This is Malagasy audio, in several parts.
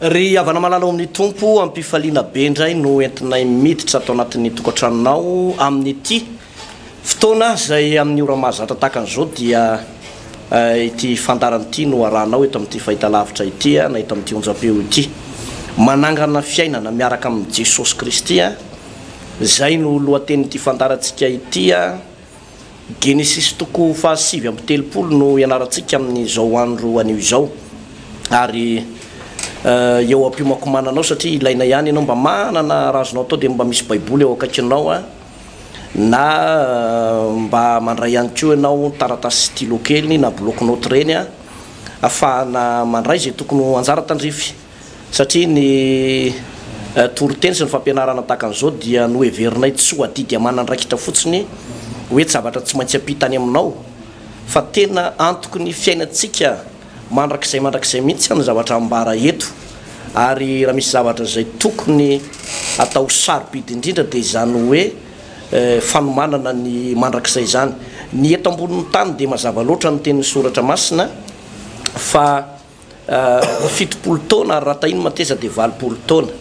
Ry havana malala ao amin'ny Tompo, amim-pifaliana be indray no entinay miditra ato anatin'ny tokantranonao amin'ity fotoana izay amin'ny ora mahazatra tahaka an'izao dia ity fandarana ity no arahanao eto amin'ity fahitalavitra ity na eto amin'ity onjam-peo ity. Manangana fiainana miaraka amin'i Jesosy Kristy, izay no lohatenin'ity fandarantsika ity. Genesisy toko fahasivy amby telopolo no ianarantsika amin'izao andro anio izao ary eo am-piomakomananao satria ilaina ihany ianao mba manana raha azonao atao dia mba misy baiboly eo akaikinao a na mba mandray ihany koa ianao taratasy sy stylo kely na bloc note ireny a afahana mandray izay tokony ho anjara tandrify. satria ny toriteny sy ny fampianarana tahaka an'izao dia noheverinay tsy ho adidy aman'andraikitra fotsiny hoe tsy zavatra tsy maintsy ampita any aminao fa tena antoky ny fiainantsika mandrakizay mandrakizay mihitsy ny zavatra ambara eto ary raha misy zavatra izay tokony atao sarobidy indrindra dia izany hoe fanomanana ny mandrakizay izany ny eto ambonin'ny tany dia mazava loatra ny tenin'ny soratra masina fa fitopolo taona ary raha tahiny mateza dia valopolo taona.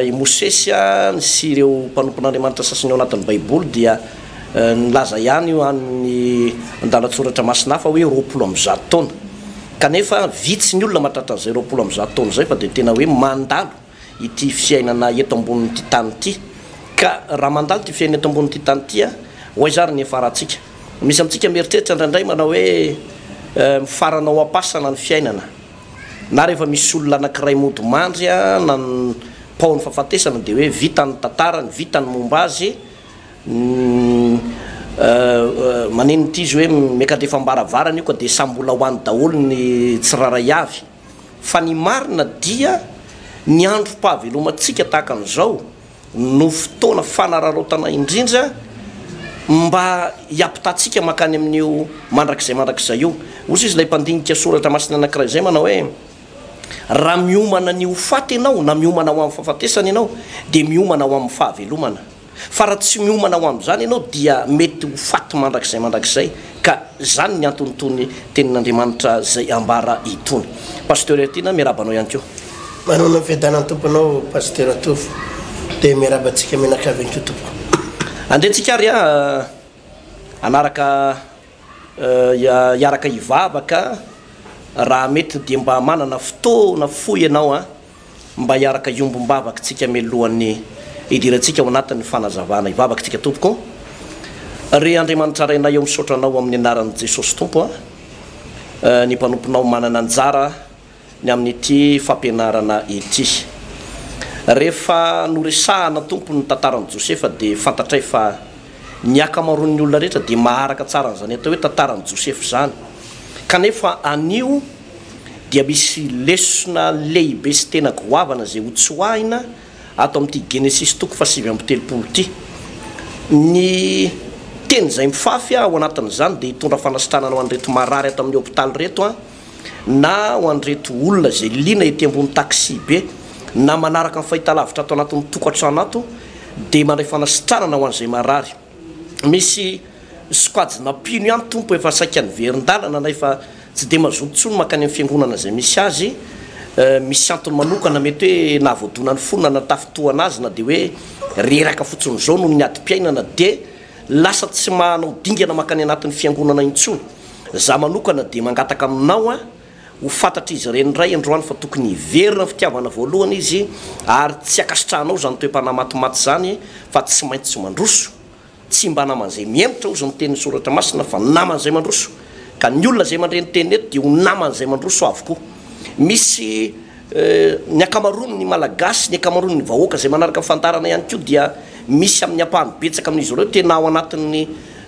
I Mosesy sy ireo mpanompon'Andriamanitra sasany ao anatin'ny Baiboly dia nilaza ihany ho an'ny andalan-tsoratra masina hafa hoe roapolo amby zato taona. Kanefa vitsy ny olona mahatratra an'izay roapolo amby zato taona izay fa dia tena hoe mandalo. ity fiainana eto ambonin'ity tany ity ka raha mandalo ity fiainana eto ambonin'ity tany ity a ho aiza ary ny hiafarantsika? Misy amintsika mieritreritra indraindray manao hoe mifarana ao am-pasana ny fiainana na rehefa misy olona anankiray mody mandry a na ny paon'ny fahafatesana dia hoe vita ny tantarany, vita ny momba azy, maninona ity izy hoe miaka-drefam-baravarana io ka dia samy mbola ho any daholo ny tsirairay avy. fa ny marina dia ny androm-pahavelomantsika tahaka an'izao no fotoana fanararaotana indrindra mba hiampitahantsika mankany amin'io mandrakizay mandrakizay io. Hoy izy ilay mpandinika soratra masina anankiray izay manao hoe, Raha miomana ny ho faty ianao na miomana ho amin'ny fahafatesana ianao dia miomana ho amin'ny fahavelomana. Fa raha tsy miomana ho amin'izany ianao dia mety ho faty mandrakizay mandrakizay ka izany ny anton'itony tenin'Andriamanitra izay ambara itony. Pasteur Hertina miarahaba anao ihany koa. Manana ny fiadanan'ny Tompo anao Pasteur Tovo dia miarahaba antsika mianakavy ihany koa tompoko. Andeha tsika ary a hanaraka hiaraka hivavaka raha mety dia mba manana fotoana fohy ianao an, mba hiaraka hiombom-bavaka tsika melohan'ny hidirantsika ao anatin'ny fanazavana, hivavaka tsika tompoko, Ry Andriamanitra Rainay ao misaotra Anao amin'ny anaran'i Jesosy Tompo an, ny mpanomponao manana anjara. ny amin'ity fampianarana ity. Rehefa noresahana tompony ny tantaran'i Josefa dia fantatray fa ny akamaroan'ny olona rehetra dia maharaka tsara an'izany atao hoe tantaran'i Josefa izany. Kanefa anio dia misy lesona lehibe sy tena goavana izay ho tsoahina ato amin'ity Genesisy toko fahasivy amby telopolo ity. Ny teny izay mifafy ao anatin'izany dia hitondra fanasitranana ho an'ireto marary ato amin'ny hopitaly ireto. na ho an'ireto olona izay liana ety ambony taxi-be na manaraka ny fahitalavitra ato anatin'ny tokantrano ato dia mandray fanasitranana ho an'izay marary. Misy sokajina mpino ihany Tompo efa saika niverin-dalana na efa tsy dia mazoto intsony mankany amin'ny fiangonana izay misy azy. Misy antony manokana mety hoe nahavoadona ny fony na natafintohana azy na dia hoe reraka fotsiny izao noho ny adim-piainana dia lasa tsy mahanao dingana mankany anatin'ny fiangonana intsony. Za manokana dia mangataka aminao an, ho fantatr'izy ireny indray androany fa tokony hiverina ny fitiavana voalohany izy ary tsy ankasitrahanao izany toe-panahy matimaty izany fa tsy maintsy mandroso, tsy mba naman'izay mihemotra hozy ny tenin'ny soratra masina fa naman'izay mandroso, ka ny olona izay mandre ny teny eto dia ho naman'izay mandroso avokoa. Misy. Ny ankamaroan' ny Malagasy, ny ankamaroan' ny vahoaka izay manaraka fandaharana ihany koa dia misy amin' ny ampahany betsaka amin' izy ireo tena ao anatin' ny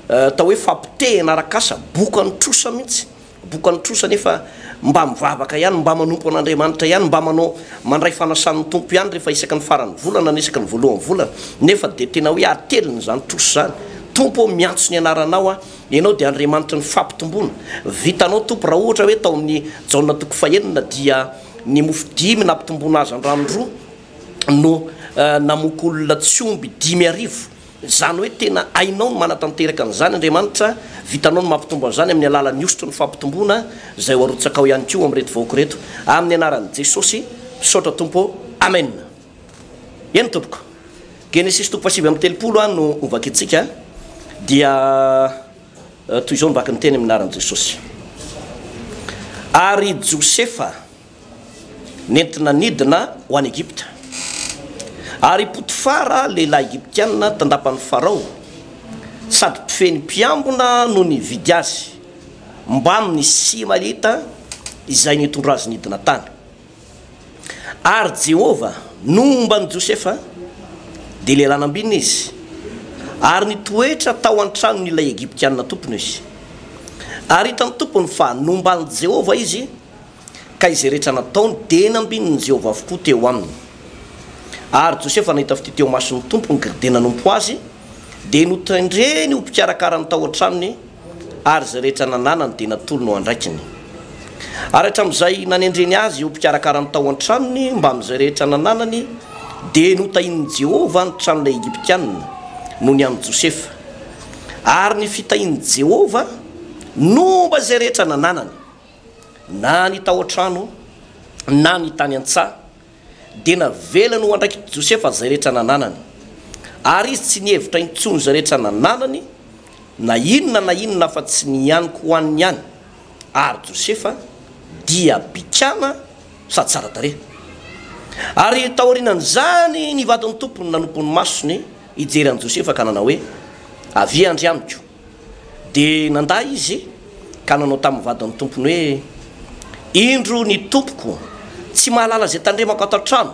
atao hoe fampotehana arak'asa, bokan' trosa mihitsy, bokan' trosa nefa mba mivavaka ihany, mba manompo an' Andriamanitra ihany, mba manao mandray fanasan' ny Tompo ihany rehefa isaky ny faran' ny volana na isaky ny voalohan' ny volana, nefa dia tena hoe atelin' izany trosa izany, Tompo ô miantso ny anaranao aho Ianao dia Andriamanitry ny fampitomboana. Vitanao Tompo raha ohatra hoe tao amin'ny Jaona toko fahenina dia ny mofo dimy nampitomboana hazandrano roa no namoaka olona tsy omby dimy arivo. Izany hoe tena hainao ny manatanteraka an'izany Andriamanitra, vitanao ny mampitombo an'izany amin'ny alalan'ny hosotry ny fampitomboana izay ho arotsakao ihany koa ho amin'ireto vahoaka ireto. Amin'ny anaran'i Jesosy, misaotra Tompo ô. Amena. Eny tompoko. Genesisy toko fahasivy amby telopolo an no ho vakintsika dia toy izao no vaky ny teny amin'ny anaran'i Jesosy. Ary Josefa nentina nidina ho any Egypta. Ary i Potifara lehilahy Egyptiana tandapan'i Farao sady mpifehy mpiambina no nividy azy mbamin'ny Isimaelita izay nitondra azy nidina tany. Ary Jehovah nomba an'i Josefa, dia lehilahy nambinina izy, ary nitoetra tao an-tranon'ilay Egyptiana tompony izy. Ary hitan'ny tompony fa nomba an'i Jehovah izy, ka izay rehetra nataony dia nambinin'i Jehovah avokoa teo aminy. Ary Josefa nahita fitia teo mason'ny tompony dia nanompo azy, dia notendreny ho mpikarakara ny tao an-tranony ary izay rehetra nananany dia natolony ho andraikiny. Ary hatramin'izay nanendreny azy ho mpikarakara ny tao an-tranony mbamin'izay rehetra nananany, dia notahian'i Jehovah ny tranon'ilay Egyptianina noho ny an'i Josefa, ary ny fitahian'i Jehovah no mba izay rehetra nananany, na ny tao an-trano na ny tany an-tsaha. dia navelany ho andraikitry Josefa izay rehetra nananany. Ary izy tsy nihevitra intsony izay rehetra nananany na inona na inona afa tsy ny aniko ho aniny ihany. Ary Josefa dia bikàna sady tsara tarehy. Ary taorianan'izany ny vadin'ny tompony nanompo ny masony hijery an'i Josefa ka nanao hoe, Avia andry amiko. Dia nandà izy ka nanao tamin'ny vadin'ny tompony hoe, Indro ny tompoko tsy mahalala izay tandremako ato an-trano,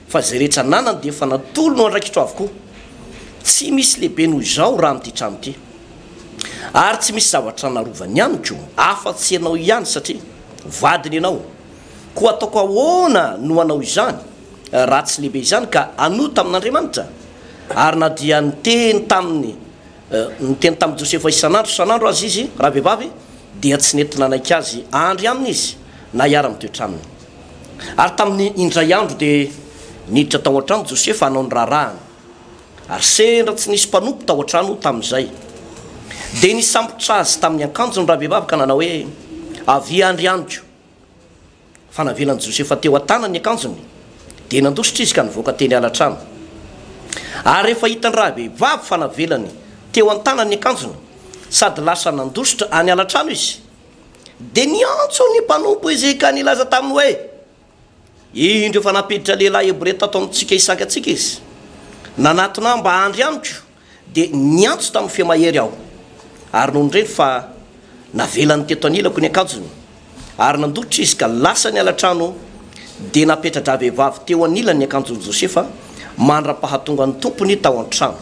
fa izay rehetra ananany dia efa natolony ho andraikitro avokoa. Tsy misy lehibe noho izao raha amin'ity trano ity. Ary tsy misy zavatra narovany amiko afa-tsy ianao ihany satria vadiny ianao. Koa ataoko ahoana no hanao izany raha tsy lehibe izany ka hanota amin'Andriamanitra? Ary na dia niteny taminy Niteny tamin'i Josefa isan'andro isan'andro aza izy, ravehivavy, dia tsy nety nanaiky azy ahandry aminy izy na hiara-mitoetra aminy. Ary tamin'ny indray andro dia niditra tao an-trano Josefa hanao ny raharahany, ary sendra tsy nisy mpanompo tao an-trano tamin'izay. Dia nisambotra azy tamin'ny akanjony ravehivavy ka nanao hoe, Avia handry amiko. Fa navelan'i Josefa teo an-tanany ny akanjony, dia nandositra izy ka nivoaka teny ala-trano. Ary rehefa hitan'ny rahavehivavy fa navelany teo an-tanany ny akanjony, sady lasa nandositra any ala-trano izy, dia niantso ny mpanompo izy ka nilaza taminy hoe, Indro efa nampiditra lehilahy Hebreo tato amintsika hisaka antsika izy. Nanatona ahy mba handry amiko. Dia niantso tamin'ny feo mahery aho, ary nony re fa navelany teto anilako ny akanjony, ary nandoitra izy ka lasa niala an-trano, dia napetra-dravehivavy teo anilany ny akanjon'i Josefa mandra-pahatonga ny tompony tao an-trano.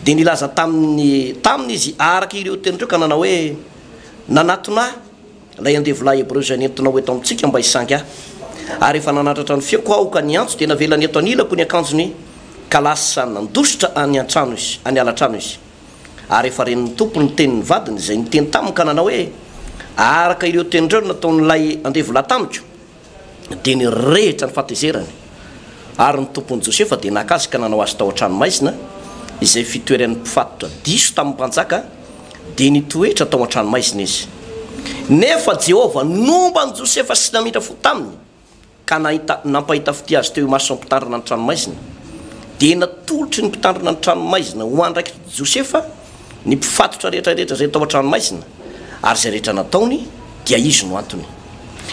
Dia nilaza taminy taminy izy araka ireo teny ireo ka nanao hoe, Nanatona ahy. Ilay andevolahy hebreo izay nentinao eto amintsika mba hisangy ahy, ary efa nanatratra ny feoko aho ka niantso, dia navelany eto anilako ny akanjony, ka lasa nandositra any an-trano izy, any ala-trano izy. Ary efa ren'ny Tompo ny tenin'ny vadiny izay niteny taminy ka nanao hoe, Araka ireo tenin'ireo no nataon'ilay andevolahy tamiko. dia nirehitra ny fahatezerany, ary ny tompon'i Josefa dia naka azy ka nanao azy tao an-trano maizina, izay fitoeran'ny mpifatotra diso tamin'ny mpanjaka, dia nitoetra tao an-trano maizina izy. Nefa Jehovah nomba an'i Josefa sy namindra fo taminy, ka nahita, nampahita fitia azy teo imason'ny mpitandrina ny trano maizina. Dia natolotry ny mpitandrina ny trano maizina ho andraikitry Josefa, ny mpifatotra rehetra rehetra izay tao an-tranomaizina ary izay rehetra nataony dia izy no antony.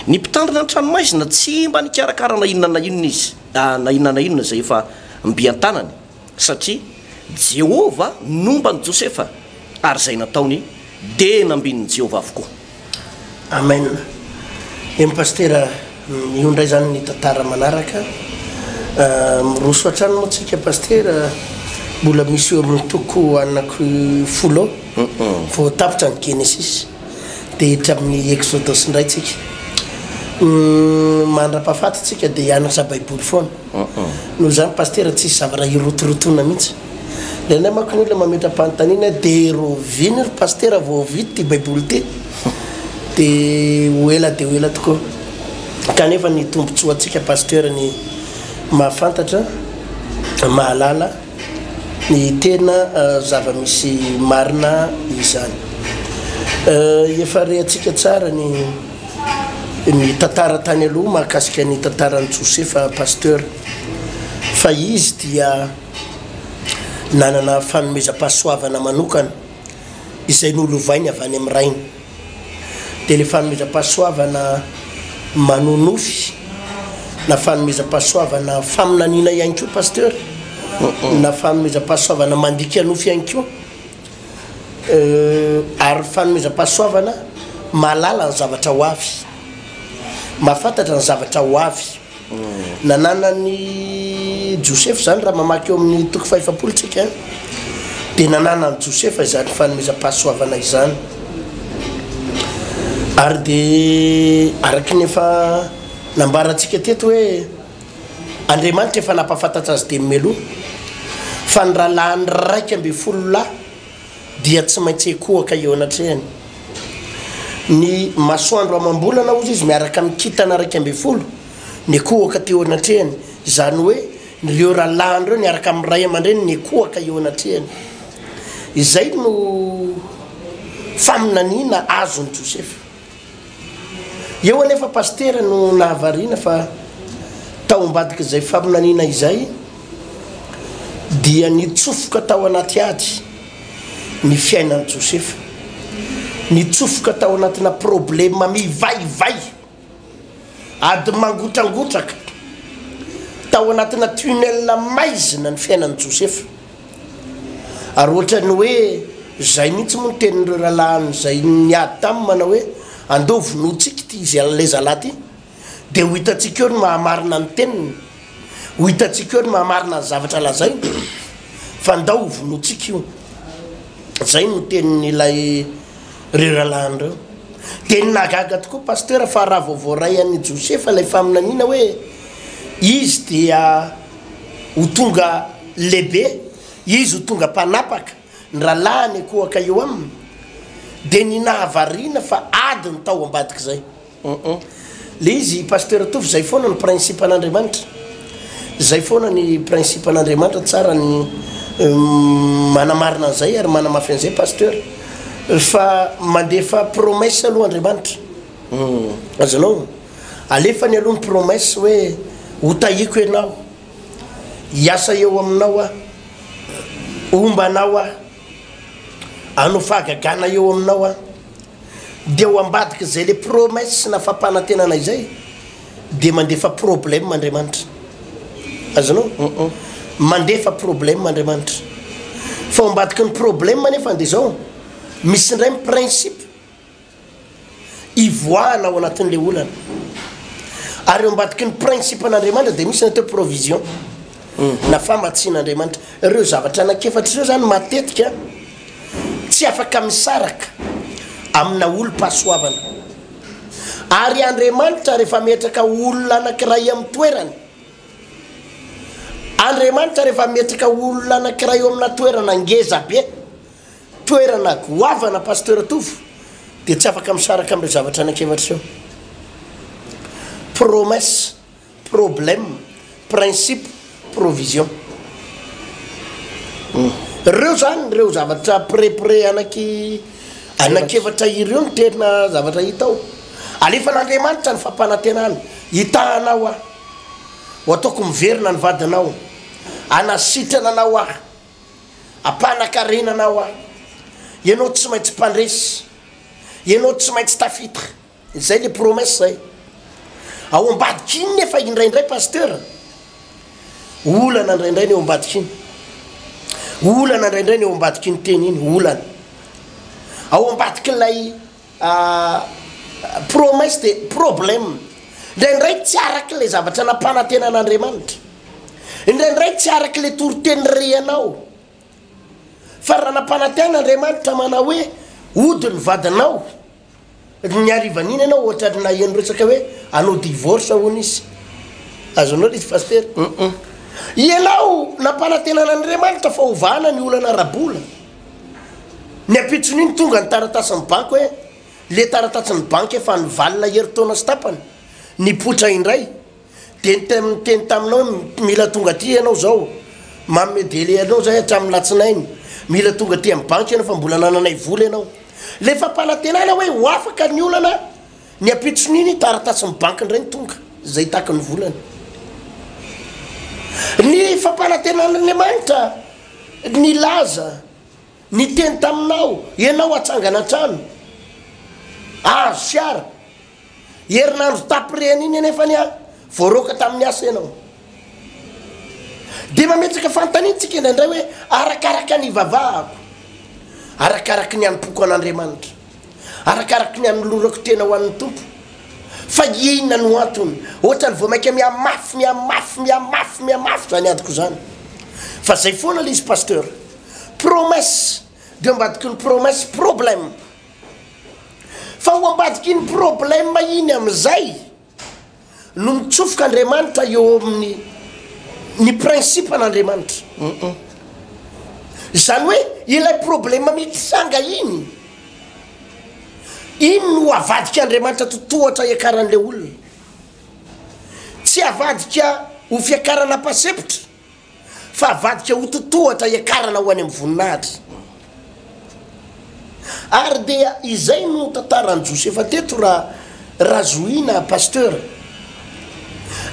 Ny mpitandrina ny tranomaizina tsy mba nikarakara na inona na inona izy, na inona na inona izay efa mby an-tanany satria Jehovah nomba an'i Josefa ary izay nataony dia nambinin'i Jehovah avokoa. Amen eny Pasitera io ndray zany ny tantara manaraka miroso hatrany moa tsika Pasitera mbola misy eo amin'ny toko anaky folo vao tapitra ny Genesis dia hiditra amin'ny Exodus ndray tsika mandra-pahafaty tsika dia hianatra Baiboly foana noho izany Pasitera tsisy zavatra hirotorotoana mihitsy Ilay anay manko ny olona mametra-panontaniana dia roviny ry Pasitera vao vita ity Baiboly ity. Dia ho ela dia ho ela tokoa. Kanefa ny tombontsoantsika Pasteur ny mahafantatra, mahalala ny tena eh, zava-misy marina izany. Eh, efa rehatsika tsara ny ny tantara tany aloha mahakasika ny tantaran'i Josefa Pasteur. Fa izy dia Nanana fanomezam-pahasoavana manokana izay nolovainy avy any amin'ny Rainy. Dia ilay fanomezam-pahasoavana manonofy na fanomezam-pahasoavana faminaniana ihany koa Pasteur na fanomezam-pahasoavana mandika nofy ihany koa ary fanomezam-pahasoavana mahalala ny zavatra ho avy, mahafantatra ny zavatra ho avy. Nananan'i Josefa izany, raha mamaky eo amin'ny toko fahefapolo isika, dia nananan'i Josefa izany fanomezam-pahasoavana izany. Ary dia araka ny efa nambarantsika teto hoe Andriamanitra efa nampahafantatra azy dia meloa fa ny rahalahiny raika ambin'ny folo lahy dia tsy maintsy ekohaka eo anatrehany. Ny masoandro amam-bolana, hozy izy, miaraka amin'ny kintana iraika ambin'ny folo, nekohaka teo anatrehany. Izany hoe, ireo rahalahiny ireo niaraka amin'ny ray aman-dreniny nekohaka eo anatrehany. Izay no faminaniana azon'i Josefa. Eo anefa Pasitera no nahavariana fa tao ambadik'izay faminaniana izay dia nitsofoka tao anaty ady ny fiainan'i Josefa. Nitsofoka tao anatina problema mivaivay, ady mangotrangotraka, tao anatina tunnel maizina ny fiainan'i Josefa. Ary ohatran'ny hoe izay mihitsy moa ny tenin'ireo rahalahiny izay niady taminy manao hoe, Andao hovonointsika ity izy an'ilay zalahy ity, dia ho hitantsika eo ny maha-marina ny teniny, ho hitantsika eo ny maha-marina ny zavatra lazainy, fa andao hovonointsika io. Izay no tenin'ilay ireo rahalahiny ireo. Dia ny nahagaga tokoa Pasitera fa raha vao voaray an'i Josefa ilay faminaniana hoe izy dia Ho tonga lehibe izy, ho tonga mpanapaka, ny rahalahiny ankohaka eo aminy, dia ny nahavariana fa ady ny tao ambadik'izay. Hum-hum. Ilay izy, Pasteur Tovo, izay foana ny principe-n'Andriamanitra. Izay foana ny principe-n'Andriamanitra, tsara ny manamarina an'izay ary manamafy an'izay Pasteur, fa mandefa promesse aloha Andriamanitra. Humm aza alou alefany aloha ny promesse hoe ho tahiko ianao, hiasa eo aminao aho, homba anao aho, hanao fahagagana eo aminao aho, dia ao ambadik'izay le promesse na fampanantenana izay dia mandefa problème Andriamanitra, azonao? Humm mandefa problème Andriamanitra, fa ao ambadiky ny problème nefa dia zao, misy indray ny principe. hivoahana ao anatin'ilay olana. Ary eo ambadiky ny principe-n'Andriamanitra dia misy ny atao provision mhm. na famatsian'Andriamanitra. Ireo zavatra anakefatra ireo zany matetika tsy afaka misaraka amina olom-pahasoavana. Ary Andriamanitra rehefa metraka olona anakiray amin'ny toerany, Andriamanitra rehefa metraka olona anakiray eo amina toerana ngezabe, Toerana goavana Pasteur Tovo dia tsy afaka misaraka amin'ireo zavatra anankiefatra ireo, promesse, problème, principe, provision. Ireo izany ireo zavatra près près anaky anankiefatra ireo no tena zavatra hita ao. Alefan'Andriamanitra ny fampanantenana, hitahana aho aho, ho ataoko miverina ny vadinao, hanasitrana anao aho. Ampanankarena anao aho. Ianao tsy maintsy mpandresy. Ianao tsy maintsy tafita. Izay le promesse zay. Ao ambadika iny nefa indraindray pasteur. Olana indraindray ny ao ambadika iny. Olana indraindray ny ao ambadika iny teny iny, olana. Ao ambadikin'ilay Aah promesse de problème, indraindray tsy araka ilay zavatra nampanantenan'Andriamanitra, indraindray tsy araka ilay toriteny rehanao, fa raha nampanantena Andriamanitra manao hoe hody ny vadinao, ny harivan'iny ianao ohatran'ny naheno resaka hoe hanao divorce hono izy, azonao ilay izy Pasitera? Ianao nampanantenan'Andriamanitra fa hovahana ny olana ara-bola, Ny ampitson'iny tonga ny taratasin'ny banky hoe le taratatsin'ny banky efa nivalona herintaona sy tapany, nipoitra indray. Dia niteny taminao hoe mila tonga aty ianao izao, manome délai anao izay hatramin'ny alatsinainy, mila tonga aty amin'ny banky ianao fa mbola anananay vola ianao. Ilay fampanantenana hoe ho afaka ny olana, ny ampitson'iny taratasin'ny banky indray ny tonga, izay takin'ny volany. Ny fampanantenan'Andriamanitra. Nilaza, niteny taminao ianao hatsangana an-trano. Azo sy ara. Herinandro tapirehana iny anefa anie voaroaka tamin'ny asa ianao. Dia mametraka fanontaniantsika indraindray hoe, arakaraka ny ivavahako, arakaraka ny anompoako an'Andriamanitra. arakaraky ny anolorako tena ho an'ny Tompo. Fa inona no antony? Ohatrany vao mainka mihamafy, mihamafy, mihamafy, mihamafy izany adiko izany. Fa zay foana le izy Pasteur. Promesse de ambadiky ny promesse problème. Fa ho ambadiky iny problème iny amin'izay no mitsofoka Andriamanitra eo amin'ny ny principe n'Andriamanitra. Izany hoe ilay problème mitranga iny, iny no avadik'Andriamanitra totohatra hiakaran'ilay olona. Tsy avadika ho fiakarana am-pasempotra. Fa avadika ho totohatra hiakarana ho any amin'ny voninahitry. Ary dia izay no tantaran'i Josefa teto ra Razohina Pasteur.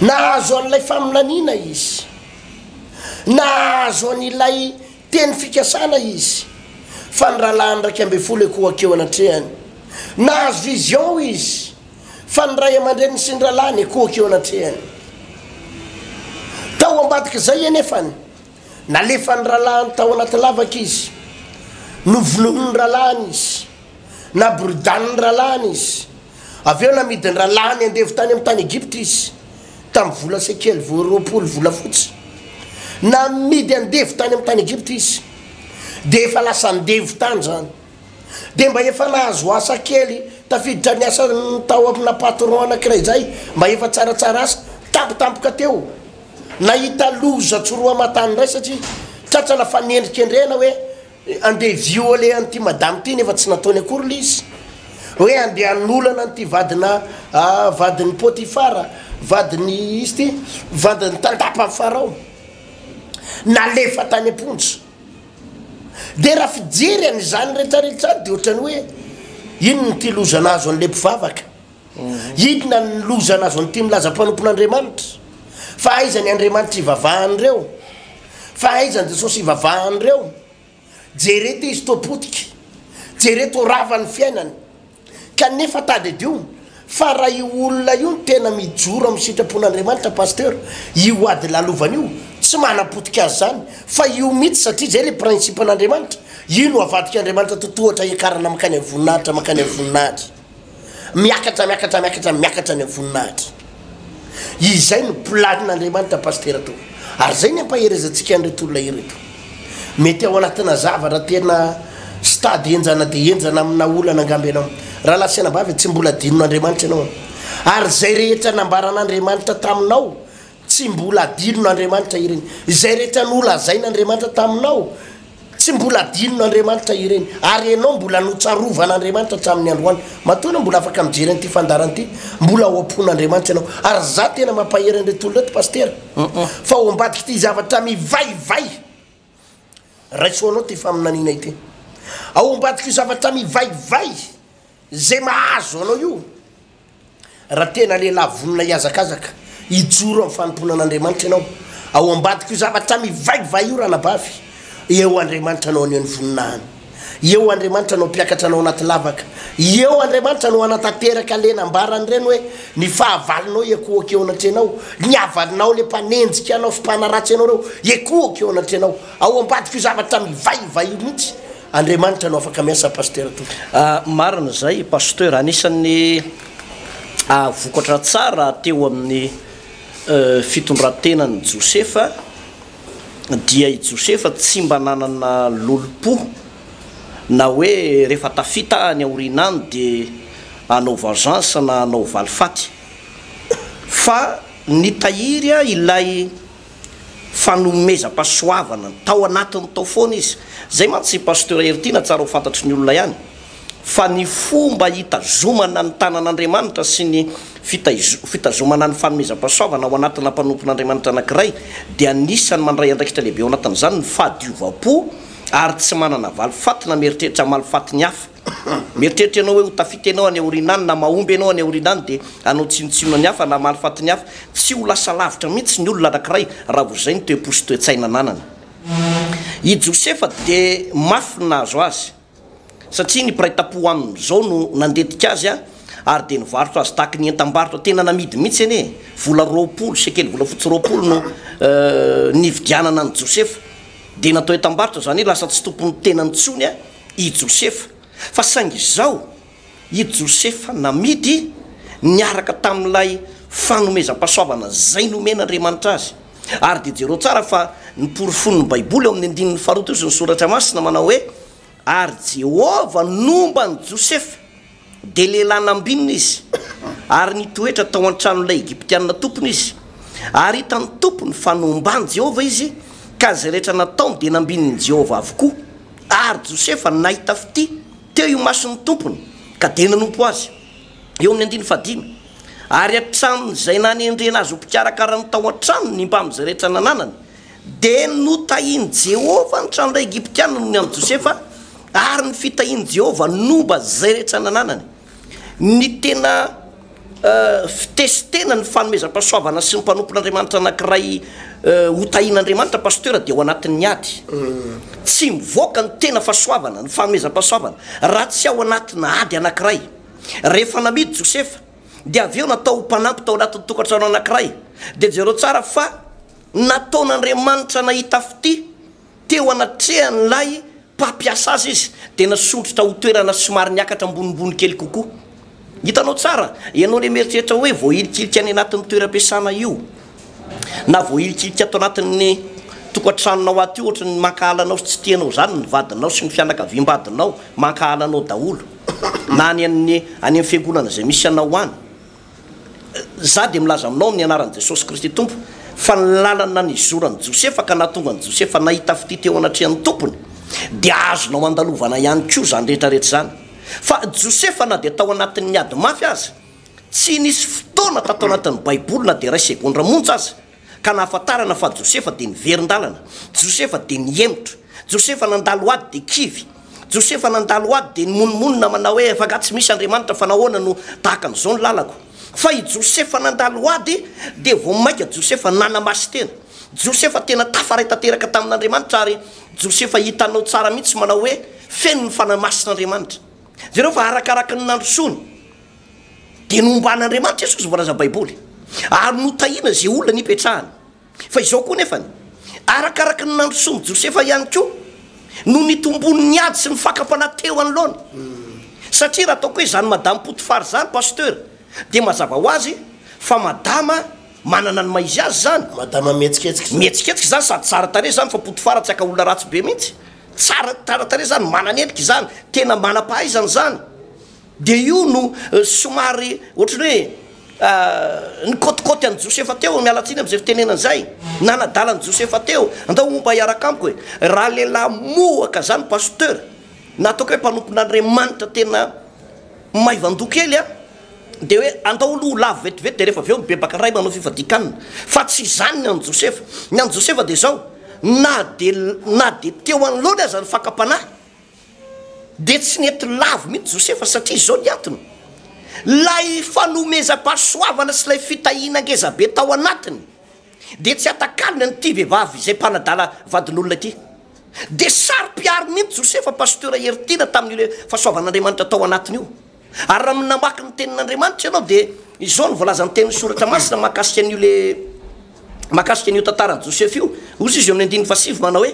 Nahazo an'ilay faminaniana izy. Nahazo an'ilay. Teny fikasana izy fa ny rahalahiny iraika ambin'ny folo ekoa keo anatrehany. Nahazo vision izy fa ny ray aman-dreniny sy ny rahalahiny ekoa keo anatrehany. Tao ambadik'izay anefany, nalefan'ny rahalahiny tao anaty lavaka izy, novonoin'ny rahalahiny izy, naboridanin'ny rahalahiny izy, avy eo namidin'ny rahalahiny andevo tany amin'ny tany Egypta izy, tamin'ny vola sekely vao roapolo volafotsy. Namidy andevo tany amin'ny tany Egypta izy, dia efa lasa andevo tany izany. Dia mba efa nahazo asa kely tafiditra ny asany tao amina patron anankiray izay mba efa tsaratsara asa, tampotampoka teo, nahita loza tsy roa aman-tany indray satria tratrana fanendrikendrehana hoe, Andeha violer an'ity madame ity nefa tsy nataony akory ilay izy. Hoe andeha hanolana an'ity vadina vadin'i Potifara, vadin'i izy ity, vadin'ny tandapan'i Farao. Nalefa tany am-ponja. Dia raha fijery an'izany rehetrarehetra izany dia ohatran'ny hoe inona ity loza nahazo an'ilay mpivavaka? Inona ny loza nahazo an'ity milaza mpanompon'Andriamanitra? Fa aiza ny Andriamanitra ivavahan'ireo? Fa aiza ny Jesosy ivavahan'ireo? Jereto izy toa potika, jereto rava ny fiainany. Kanefa tadidio fa raha io olona io no tena mijoro amin'ny sitrapon'Andriamanitra Pasteur, io ady lalovany io tsy manapotika azy izany fa io mihitsy satria izay ilay principe-n'Andriamanitra, io no avadik'Andriamanitra totohatra hiakarana mankany amin'ny voninahitra mankany amin'ny voninahitra. Miakatra, miakatra, miakatra, miakatra any amin'ny voninahitra. Izay no planin'Andriamanitra Pasitera toa. Ary izay ny ampaherezantsika an'ireto olona ireto. Mety ao anatina zavatra tena stade enjana dia enjana amina olana angamba ianao. Rahalahy sy anabavy, tsy mbola adinon'Andriamanitra ianao. Ary izay rehetra nambaran'Andriamanitra taminao Tsy mbola adinona Andriamanitra ireny. Izay rehetra nolazain' Andriamanitra taminao, tsy mbola adinona Andriamanitra ireny. Ary ianao mbola notsarovan' Andriamanitra hatramin' ny androany. Matoa ianao mbola afaka mijery an' ity fandaharana ity, mbola ao am-pon' Andriamanitra ianao. Ary izaho tena mampahery an'ireto olona ireto, Pasitera, fa ao ambadiky ity zavatra mivaivay. Raiso anao ty faminaniana ity. Ao ambadik'io zavatra mivaivay izay mahazo anao io, raha tena lehilahy vonona hihazakazaka, hijoro amin'ny fanompoana an'Andriamanitra ianao, ao ambadik'io zavatra mivaivay io, ranabavy, eo Andriamanitra anao anio ny voninahiny. Eo Andriamanitra no hampiakatra anao anaty lavaka. Eo Andriamanitra no hanatanteraka le nambarany ireny hoe ny fahavalonao hiekohoka eo anatrehanao, ny havalinao le mpanenjika anao sy mpanaratsy anao ireo hiekohoka eo anatrehanao. Ao ambadika io zavatra mivaiva io mihitsy Andriamanitra no afaka miasa Pasteur tompoko. Marina izay Pasteur, anisan'ny vokatra tsara teo amin'ny fitondrantenan'i Josefa, dia i Josefa tsy mba nanana lolompo na hoe rehefa tafita any aoriana any dia hanao vengeance na hanao valifaty fa nitahiry ilay fanomezam-pahasoavana tao anatiny tao foana izy. Izay mantsy i Pasteur Heritiana tsara ho fantatry ny olona ihany. fa ny fomba hitazomana ny tanan'Andriamanitra sy ny fitazomana ny fanomezam-pahasoavana ho anatina mpanompon'Andriamanitra anankiray dia anisan'ny mandray andraikitra lehibe ao anatin'izany ny fahadiovam-po ary tsy manana valifaty na mieritreritra hamaly faty ny hafa. Mieritreritra ianao hoe ho tafita ianao any aoriana any na mahomby ianao any aoriana any dia hanao tsinontsinona ny hafa na hamaly faty ny hafa. Tsy ho lasa lavitra mihitsy ny olona anankiray raha vao izay ny toe-po sy toe-tsaina ananany. I Josefa dia mafy ny nahazo azy. satria ny mpiray tampo aminy izao no nandetika azy ary dia nivarotra azy tahaky ny entam-barotra tena namidy mihitsy anie e! vola roapolo sekely volafotsy roapolo no nividianana an'i Josefa dia natao entam-barotra izany hoe lasa tsy tompon'ny tenany intsony i Josefa fa saingy izao I Josefa namidy niaraka tamin'ilay fanomezam-pahasoavana izay nomen'Andriamanitra azy. Ary dia jereo tsara fa noporofoin'ny Baiboly ao amin'ny andininy faharoa teo sy ny Soratra Masina manao hoe, Ary Jehovah nomba an'i Josefa, dia lehilahy nambinina izy, ary nitoetra tao an-tranon'ilay Egyptiana tompony izy, ary hitan'ny tompony fa nomban'i Jehovah izy, ka izay rehetra nataony dia nambinin'i Jehovah avokoa. Ary Josefa nahita fitia. teo imason'ny tompony ka dia nanompo azy, eo amin'ny andininy fahadimy, ary hatramin'izay nanendrena azy ho mpikarakarany tao an-tranony ny mpamin'izay rehetra nananany, dia notahin'i Jehovah ny tranon'ilay Egyptiana noho ny an'i Josefa, ary ny fitahian'i Jehovah nomba izay rehetra nananany. Ny tena. Fitesitena ny fanomezam-pahasoavana sy ny mpanompon'Andriamanitra anankiray hotahin'Andriamanitra Pasteur dia ao anatin'ny ady. Tsy mivoaka ny tena fahasoavana, ny fanomezam-pahasoavana, raha tsy ao anatina ady anankiray. Rehefa namidy Josefa, dia avy eo natao ho mpanampy tao anatin'ny tokantrano anankiray. Dia jereo tsara fa nataon'Andriamanitra nahita fitia. Teo anatrehan'ilay mpampiasa azy izy, dia nasondrotra ho toerana somary niakatra ambonimbony kely kokoa. Hitanao tsara? Ianao ilay mieritreritra hoe voahilikilika any anatin'ny toeram-piasana io, na voahilikilika ato anatin'ny tokantranonao ato io, hoatry ny mankahala anao sy tsy tia anao izany ny vadinao sy ny fianakaviam-badinao, mankahala anao daholo, na any amin'ny any amin'ny fiangonana izay misy anao any. Izaho dia milaza aminao amin'ny anaran'i Jesosy Kristy Tompo fa ny lalana nizoran'i Josefa ka nahatonga an'i Josefa nahita fitia teo anatrehan'ny tompony dia azonao andalovana ihany koa izany rehetra rehetra izany. Fa Josefa na dia tao anatin'ny ady mafy aza, tsy nisy fotoana tato anatin'ny baiboly na dia iray segondra monja aza, ka nahafantarana fa Josefa dia niverin-dalana, Josefa dia nihemotra, Josefa nandalo ady dia kivy, Josefa nandalo ady dia nimonomonona manao hoe efa angaha tsy misy Andriamanitra fa nahoana no tahaka an'izao ny lalako? Fa i Josefa nandalo ady dia vao mainka Josefa nanamaso tena, Josefa tena tafaray tanteraka tamin'Andriamanitra ary Josefa hitanao tsara mihitsy manao hoe feno ny fanahy masin'Andriamanitra. Jereo fa arakaraky ny nandrosoany. Dia nomban'Andriamanitra Jesosy voalaza Baiboly ary notahiana izay olona nipetrahany. Fa izao koa nefany, arakaraka ny nandrosoan'i Josefa ihany koa no nitombon'ny ady sy ny fakam-panahy teo anoloany. Satria raha ataoko hoe izany Madame Potifar izany Pasteur dia mazava ho azy fa Madama manana ny maha izy azy izany. Madama mihetsiketsika izany. Mihetsiketsika izany sady tsara tarehy izany fa Potifar tsy ankaolona ratsy be mihitsy. Tsara, tsara tarehy izany, manana endrika izany, tena manam-pahaizana izany. Dia io no somary ohatran'ny hoe nikaotikaoty an'i Josefa teo, miala tsiny amin'izay fitenenana izay, nanadala an'i Josefa teo, andao homba hiaraka amiko e! Raha lehilahy mohaka izany Pasteur, na ataoko hoe mpanompon'Andriamanitra tena maivan-doha kely an, dia hoe andao aloha ho lavo vetivety dia rehefa avy eo mibebaka indray manao fifadian-kanina, fa tsy izany ny an'i Josefa, ny an'i Josefa dia izao, na dia na dia teo anoloany aza ny fakam-panahy, dia tsy nety lavo mihitsy Josefa satria izao ny antony, ilay fanomezam-pahasoavana sy ilay fitahiana ngezabe tao anatiny dia tsy atakalony an'ity vehivavy izay mpanadala vadin'olona ity. Dia saro-piaro mihitsy Josefa Pasteur Hery Tiana tamin'io fahasoavan'Andriamanitra tao anatiny io. Ary raha namaky ny tenin'Andriamanitra ianao dia izao no voalazan'ny tenin'ny soratra masina mahakasika an'io le mahakasika an'io tantaran'i Josefa io, hozy izy eo amin'ny andininy fahasivy manao hoe,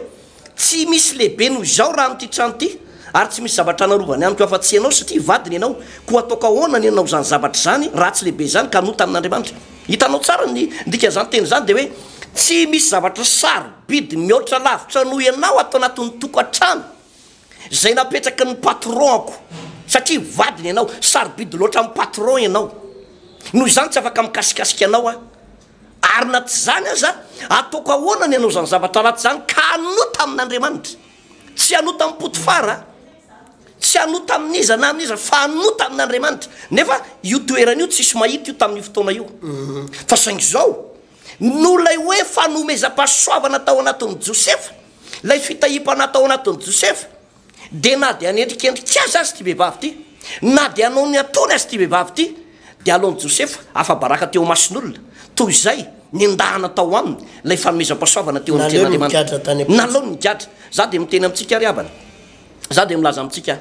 Tsy misy lehibe noho izaho raha amin'ity trano ity, ary tsy misy zavatra narovany amiko afa-tsy ianao, satria vadiny ianao. Koa ataoko ahoana ny hanao izany zavatra izany, raha tsy lehibe izany ka hanota amin'Andriamanitra? Hitanao tsara ny dikan'izany teny izany, dia hoe tsy misy zavatra sarobidy mihoatra lavitra noho ianao ato anatin'ny tokantrano, izay napetraky ny patron-ko, satria vadiny ianao. Sarobidy loatra amin'ny patron ianao, noho izany tsy afaka mikasikasika anao aho. Ary na tsy izany aza, ataoko ahoana ny hanao izany zavatra ratsy izany ka hanota amin'Andriamanitra? Tsy hanota amin'i Potifara, tsy hanota amin'iza na amin'iza, fa hanota amin'Andriamanitra. Nefa io toerana io tsisy mahita io tamin'io fotoana io. Fa saingy izao no ilay hoe fanomezam-pahasoavana tao anatin'i Josefa, ilay fitahiam-panahy tao anatin'i Josefa. Dia na dia anendrikendrika azy aza ity vehivavy ity, na dia hanao ny ataony aza ity vehivavy ity, dia alaon'i Josefa afa-baraka teo imason'olona, toy izay nendahana tao aminy ilay fanomezam-pahasoavana teo amin'ny Tenin'Andriamanitra. Naleony nigadra. Izaho dia miteny amintsika ry havana, izaho dia milaza amintsika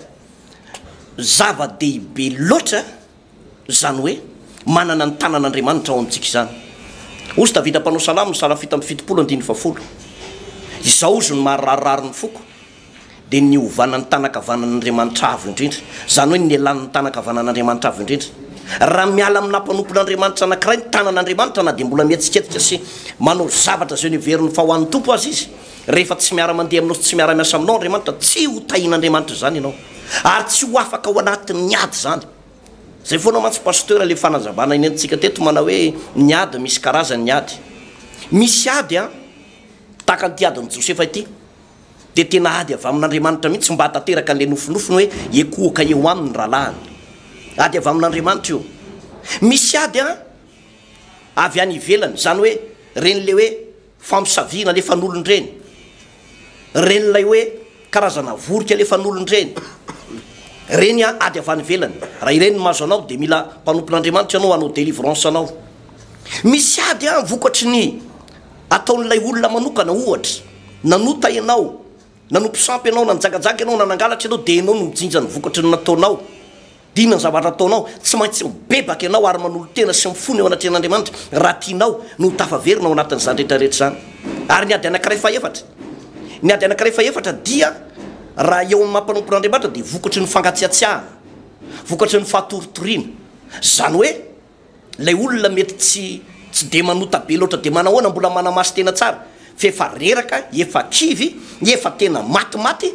zava-dehibe loatra Izany hoe, manana ny tanan'Andriamanitra ao amintsika izany. Hozy Davida mpanao salamo ny salafita amby fitopolo andininy fahafolo, Izao hozy no mahararirary ny foko, dia ny hovanan'ny tànankavanan'Andriamanitra Avo Indrindra, izany hoe ny elan'ny tànankavanan'Andriamanitra Avo Indrindra. Raha miala aminà mpanompon'Andriamanitra anankiray ny tanan'Andriamanitra na dia mbola mihetsiketsika sy manao zavatra izay noheverin'ny fa ho an'ny Tompo aza izy, Rehefa tsy miara-mandeha aminao sy tsy miara-miasa aminao Andriamanitra, tsy ho tahin'Andriamanitra izany ianao, ary tsy ho afaka ao anatin'ny ady izany. Izay foana mantsy Pasteur ilay fanazavana enentintsika teto manao hoe ny ady misy karazany ny ady. Misy ady an, tahaka an'ity adin'i Josefa ity, dia tena ady avy amin'Andriamanitra mihitsy mba hahatanteraka an'ilay nofinofiny hoe ekohoka eo aminy ny rahalahiny. Ady avy amin'Andriamanitra io. Misy ady an, avy any ivelany, izany hoe ren'ilay hoe, Fampisaviana le fanolon-dreny. Reny ilay hoe karazana vorika le fanolon-dreny. Reny an ady avy any ivelany. Raha ireny no mahazo anao dia mila mpanompon'Andriamanitra ianao hanao délivrance anao. Misy ady an vokatry ny ataon'ilay olona manokana ohatra nanota ianao Nanompo sampy ianao, nanjagajanga ianao, nanangalatra ianao, dia ianao no mijinja ny vokatry ny nataonao. Diniho ny zavatra ataonao, tsy maintsy mibebaka ianao ary manolo-tena sy mifona eo anatrehan'Andriamanitra raha tianao no ho tafaverina ao anatin'izany rehetrarehetra izany. Ary ny ady anankiray fahefatra? Ny ady anankiray fahefatra dia, raha eo amin'ny maha mpanompon'Andriamanitra, dia vokatry ny fangatsiatsiahana, vokatry ny fatoritoriana. Izany hoe. Ilay olona mety tsy tsy dia manota be loatra dia manahoana mbola manamaso tena tsara fa efa reraka, efa kivy, efa tena matimaty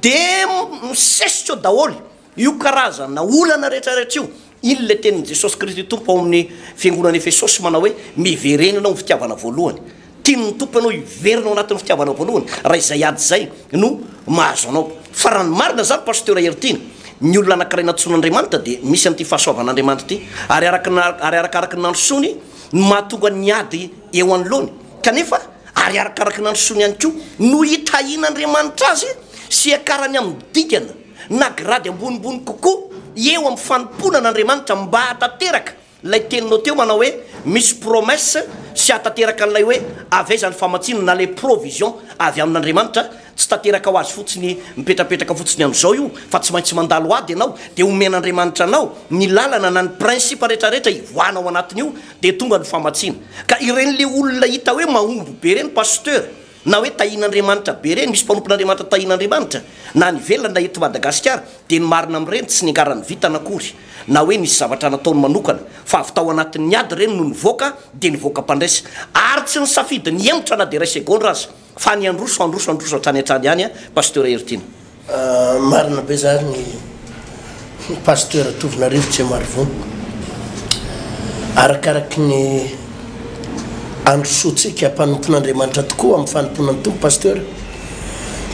dia misesika eo daholo io karazana olana rehetrarehetra io. Iny ilay tenin'i Jesosy Kristy Tompo ao amin'ny fiangonan'i Efesosy manao hoe miverenana ho fitiavana voalohany. Tian'ny Tompo ianao hiverina ao anatin'ny fitiavanao voalohany raha izay ady izay no mahazo anao. Fa raha ny marina izany Pasteur Heritiana, ny olona anankiray nantsoin'Andriamanitra dia misy an'ity fahasoavan'Andriamanitra ity ary araka ny ary arakaraky ny nandrosoany no mahatonga ny ady eo anoloany kanefa ary arakaraky ny nandrosoany ihany koa no hitahian'Andriamanitra azy sy hiakarany amin'ny dingana na grady ambonimbony kokoa eo amin'ny fanompoana an'Andriamanitra mba hahatanteraka Ilay teninao teo manao hoe misy promesse sy hahatanteraka an'ilay hoe avy aiza ny famatsiana na le provision avy amin'Andriamanitra, tsy tanteraka ho azy fotsiny mipetrapetraka fotsiny amin'izao io fa tsy maintsy mandalo ady ianao dia omen'Andriamanitra anao ny lalana na ny principe retraretra hivoahana ao anatin'io dia tonga ny famatsiana ka ireny le olona hita hoe mahomby be ireny pasteur na hoe tahian'Andriamanitra be ireny, misy mpanompon'Andriamanitra tahian'Andriamanitra na any ivelany na eto Madagasikara, dia ny marina amin'ireny tsy niangaran'ny vintana akory na hoe nisy zavatra nataony manokana fa avy tao anatin'ny ady ireny no nivoaka dia nivoaka mpandresy ary tsy nisafidy ny hihemotra na dia iray segondra aza fa ny handroso handroso handroso hatrany hatrany ihany Pasteur Heritiana. Marina be zany ny Pasteur Tovona Rivotra e Marivony. Arakaraky ny androsoantsika mpanompon'Andriamanitra tokoa amin'ny fanompoana ny Tompo Pasteur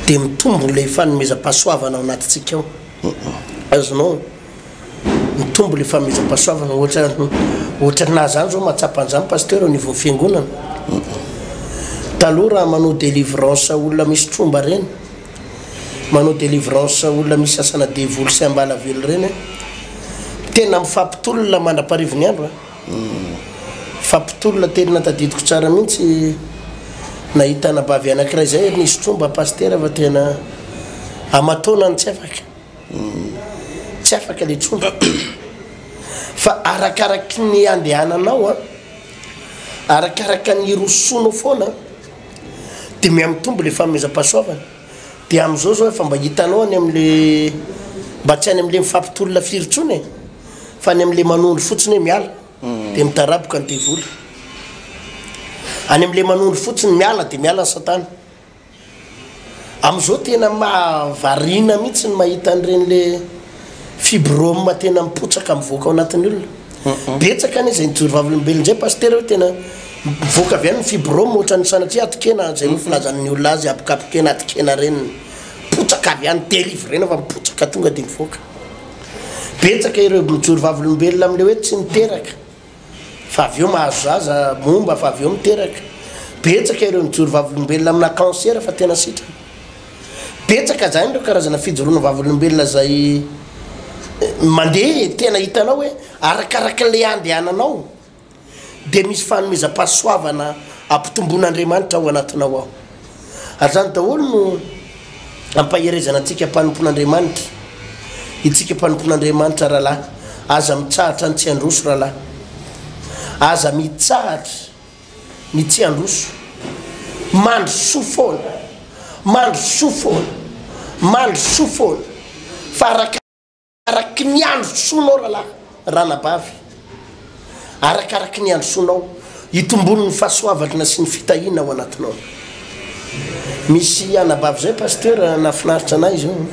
dia mitombo ilay fanomezam-pahasoavana ao anatintsika ao. Azonao? mitombo le famizam-pahasoavana ohatra ohatra na zany zao mahatsapa an'zany pasteur au niveau fiangonana taloha raha manao délivrance olona misy tromba reny manao délivrance olona misy asana devoly sy ambalavelo reny tena mifampitolona mandra-paharivony andro fampitolona tena tadidiko tsara mihitsy nahita anabavy anankiray zay nisy tromba pasteur fa tena aman-taonany tsy afaka Tsy afaka le tromba fa arakaraky ny andehananao a, arakaraka ny hirosoanao foana de mihamitombo le fanomezam-pahasoavana, de amizao zao efa mba hitanao any amle mba tsy any amle mifampitolona firy tsony e, fa any amle manondro fotsiny hoe miala de mitaraboka ny devoly, any amle manondro fotsiny miala de miala ny satana. Amin'izao tena mahavariana mihitsy ny mahita an'ireny le fibrome tena mipotsaka mivoaka ao anatin'ny olona. Betsaka anie izay nijoro vavolombelona izay Pasitera hoe tena mivoaka avy any ny fibrome ohatran'ny sanatria atokena izay no filazan'ny olona azy habokabokena atokena reniny. Mipotsaka avy any delivrena fa mipotsaka tonga dia mivoaka. Betsaka ireo mijoro vavolombelona amin'ilay hoe tsy niteraka. fa avy eo mahazo zaza, momba fa avy eo miteraka. Betsaka ireo nijoro vavolombelona amina cancer fa tena sitrana. Betsaka izany ireo karazana fijoroana vavolombelona izay eh, mandeha e, tena hitanao hoe arakaraka ilay andehananao dia misy fanomezam-pahasoavana ampitomboin'Andriamanitra ao anatinao ao. Ary izany daholo no ampaherezana antsika mpanompon'Andriamanitra. Itsika mpanompon'Andriamanitra rahalahy, aza mitsahatra ny tsy handroso rahalahy. Aza mitsahatra ny tsy handroso. Mandrosoa foana, mandrosoa foana, mandrosoa foana. Fa araka Araky ny handrosoanao rahalahy, ranabavy, arakaraky ny handrosoanao, hitomboany ny fahasoavalna sy ny fitahiana ao anatinao. Misy anabavy zay Pasteur nahafinaritra anay zao an.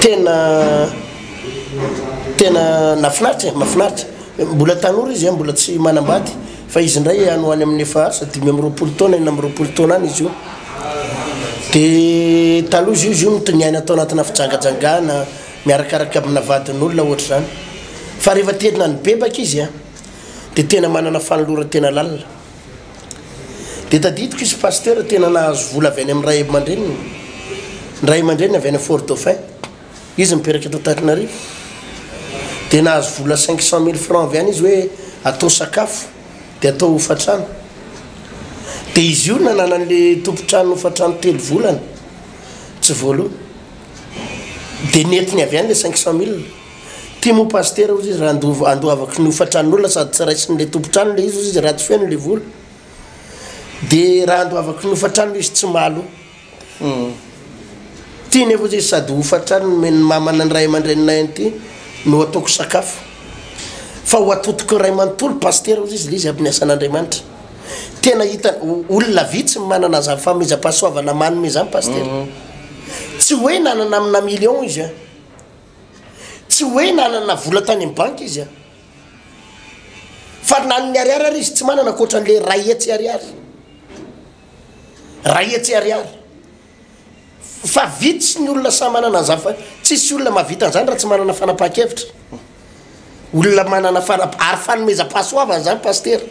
Tena tena nahafinaritra e, mahafinaritra. Mbola tanora izy an, mbola tsy manambady. Fa izy indray any ho any amin'ny efa asa dimy amby roapolo taona, enina amby roapolo taona any izy io. Dia taloha izy io, izy io no niaina tao anatina fijangajangana, miarakaraka amina vadin'olona ohatra izany. Fa rehefa terina nibebaka izy a, dia tena manana fanoloran-tena lalina. Dia tadidiko izy pasitera tena nahazo vola avy any amin'ny ray aman-dreniny, ny ray aman-dreniny avy any Fort-Dauphin. Izy mipetraka eto Antananarivo dia nahazo vola cinq cent mille francs avy ihany izy hoe atao sakafo dia atao hofantrano. Dia izy io nananan'le tompon-trano hofantrano telo volana tsy voaloa. Dia nentiny avy ihany le cinq cent mille. Ty moa pasitera hozy izy raha andovo- andoavako ny hofantranon'olona sady tsy raisin'le tompon-trano le izy hozy izy raha tsy feno le vola. Dia raha andoavako ny hofantrano le izy tsy mahaloa. Ity nefa izy sady hofantrany nomeny ny mamana ny ray aman-dreninay an'ity no ataoko sakafo. Fa ho atotoky ny ray manontolo pasitera hozy izy le izy amin'ny asan'Andriamanitra. Tena hita olona vitsy ny manana zany fanomezam-pahasoavana manome zany pasitera. Tsy hoe nanana amina million izy a. Tsy hoe nanana vola tany amin'ny banky izy a. Fa na ny ariary ary izy tsy manana ankoatran'le iray hetsy ariary. Iray hetsy ariary. Fa vitsy ny olona samy manana an'izany fa tsisy olona mahavita an'izany raha tsy manana fanapahan-kevitra. Olona manana fanap ary fanomezam-pahasoavana izany pasitera.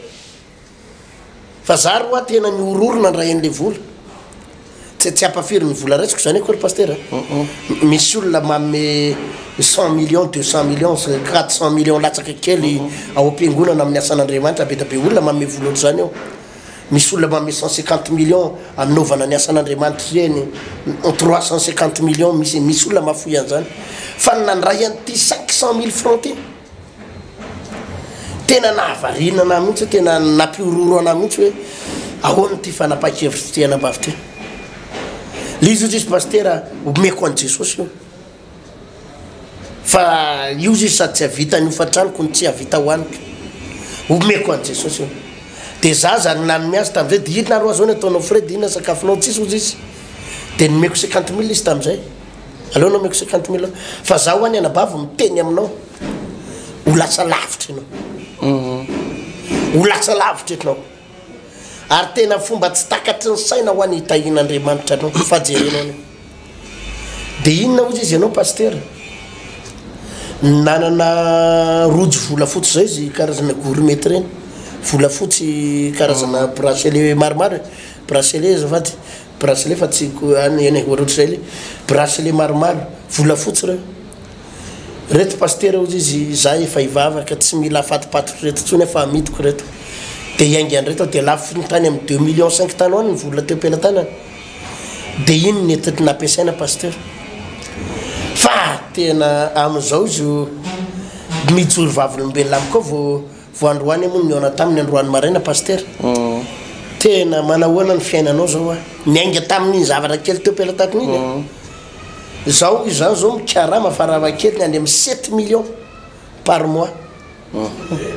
Fa za ry roa tena nihorohoro nandray an'ilay vola. Tsy tsy hampafiry ny vola raisiko izany akory pasitera. Misy olona manome cent millions, deux cent millions, quatre cent millions latsaka kely ao am-piangonana amin'ny asan'Andriamanitra be dia be olona manome vola ohatr'izany ao. Misy olona manome cent cinquante millions hanaovana ny asan'Andriamanitra ireny trois cent cinquante millions misy misy olona mahafoy an'izany fa ny nandray an'ity cinq cent mille francs ity tena nahavariana anah mihitsy hoe tena nampihorohoro anah mihitsy hoe ahoana ity fanapahan-kevitra ity anabavy ity le izy ohatr'izy pasitera omeko an'i Jesosy io Fa io zisy sady tsy havita ny hofan-tranoko no tsy havita ho aniko. Omeko an'i Jesosy io. Dia za zany nanome azy tamin'izay, dia inona ary hoa zao ny ataonao Fred, inona ny sakafonao, tsisy hoy zisy. Dia nomeko cinquante mille izy tamin'izay. Aleo nomeko cinquante mille eo. Fa za hoa ny anabavy miteny aminao, ho lasa lavitra ianao. Ho lasa lavitra ianao. Ary tena fomba tsy takatry ny saina hoa ny hitahiana Andriamanitra anao fa jerenao anie. Dia inona ozy izy ianao Pasitera? Nanana rojo volafotsy izao izy karazana gourmet ireny. Volafotsy karazana ah. bracelet maromaro e. Bracelet azafady. Bracelet fa tsy ko- any eny e, ohatrohatr'izay le. Bracelet maromaro volafotsy ireo. Reto pasitera hozy izy za efa hivavaka tsy mila afatipaty ry reto tsony fa amidiko reto de hiainga anreto aho de lafo ny tany am deux millions cinq tany hoany ny vola teo pelatanana de iny nety nampiasaina pasitera fa tena amizao zo mijoro vavolombelona amiko ao vo Vao androany moa no nihaona taminy androany maraina Pasitera. Tena manahoana ny fiainanao zao a. Niainga tamin'iny zavatra kely teo pelatakon'iny e. Zaho izany zao mikarama farafahakeliny any amin'ny sept millions par mois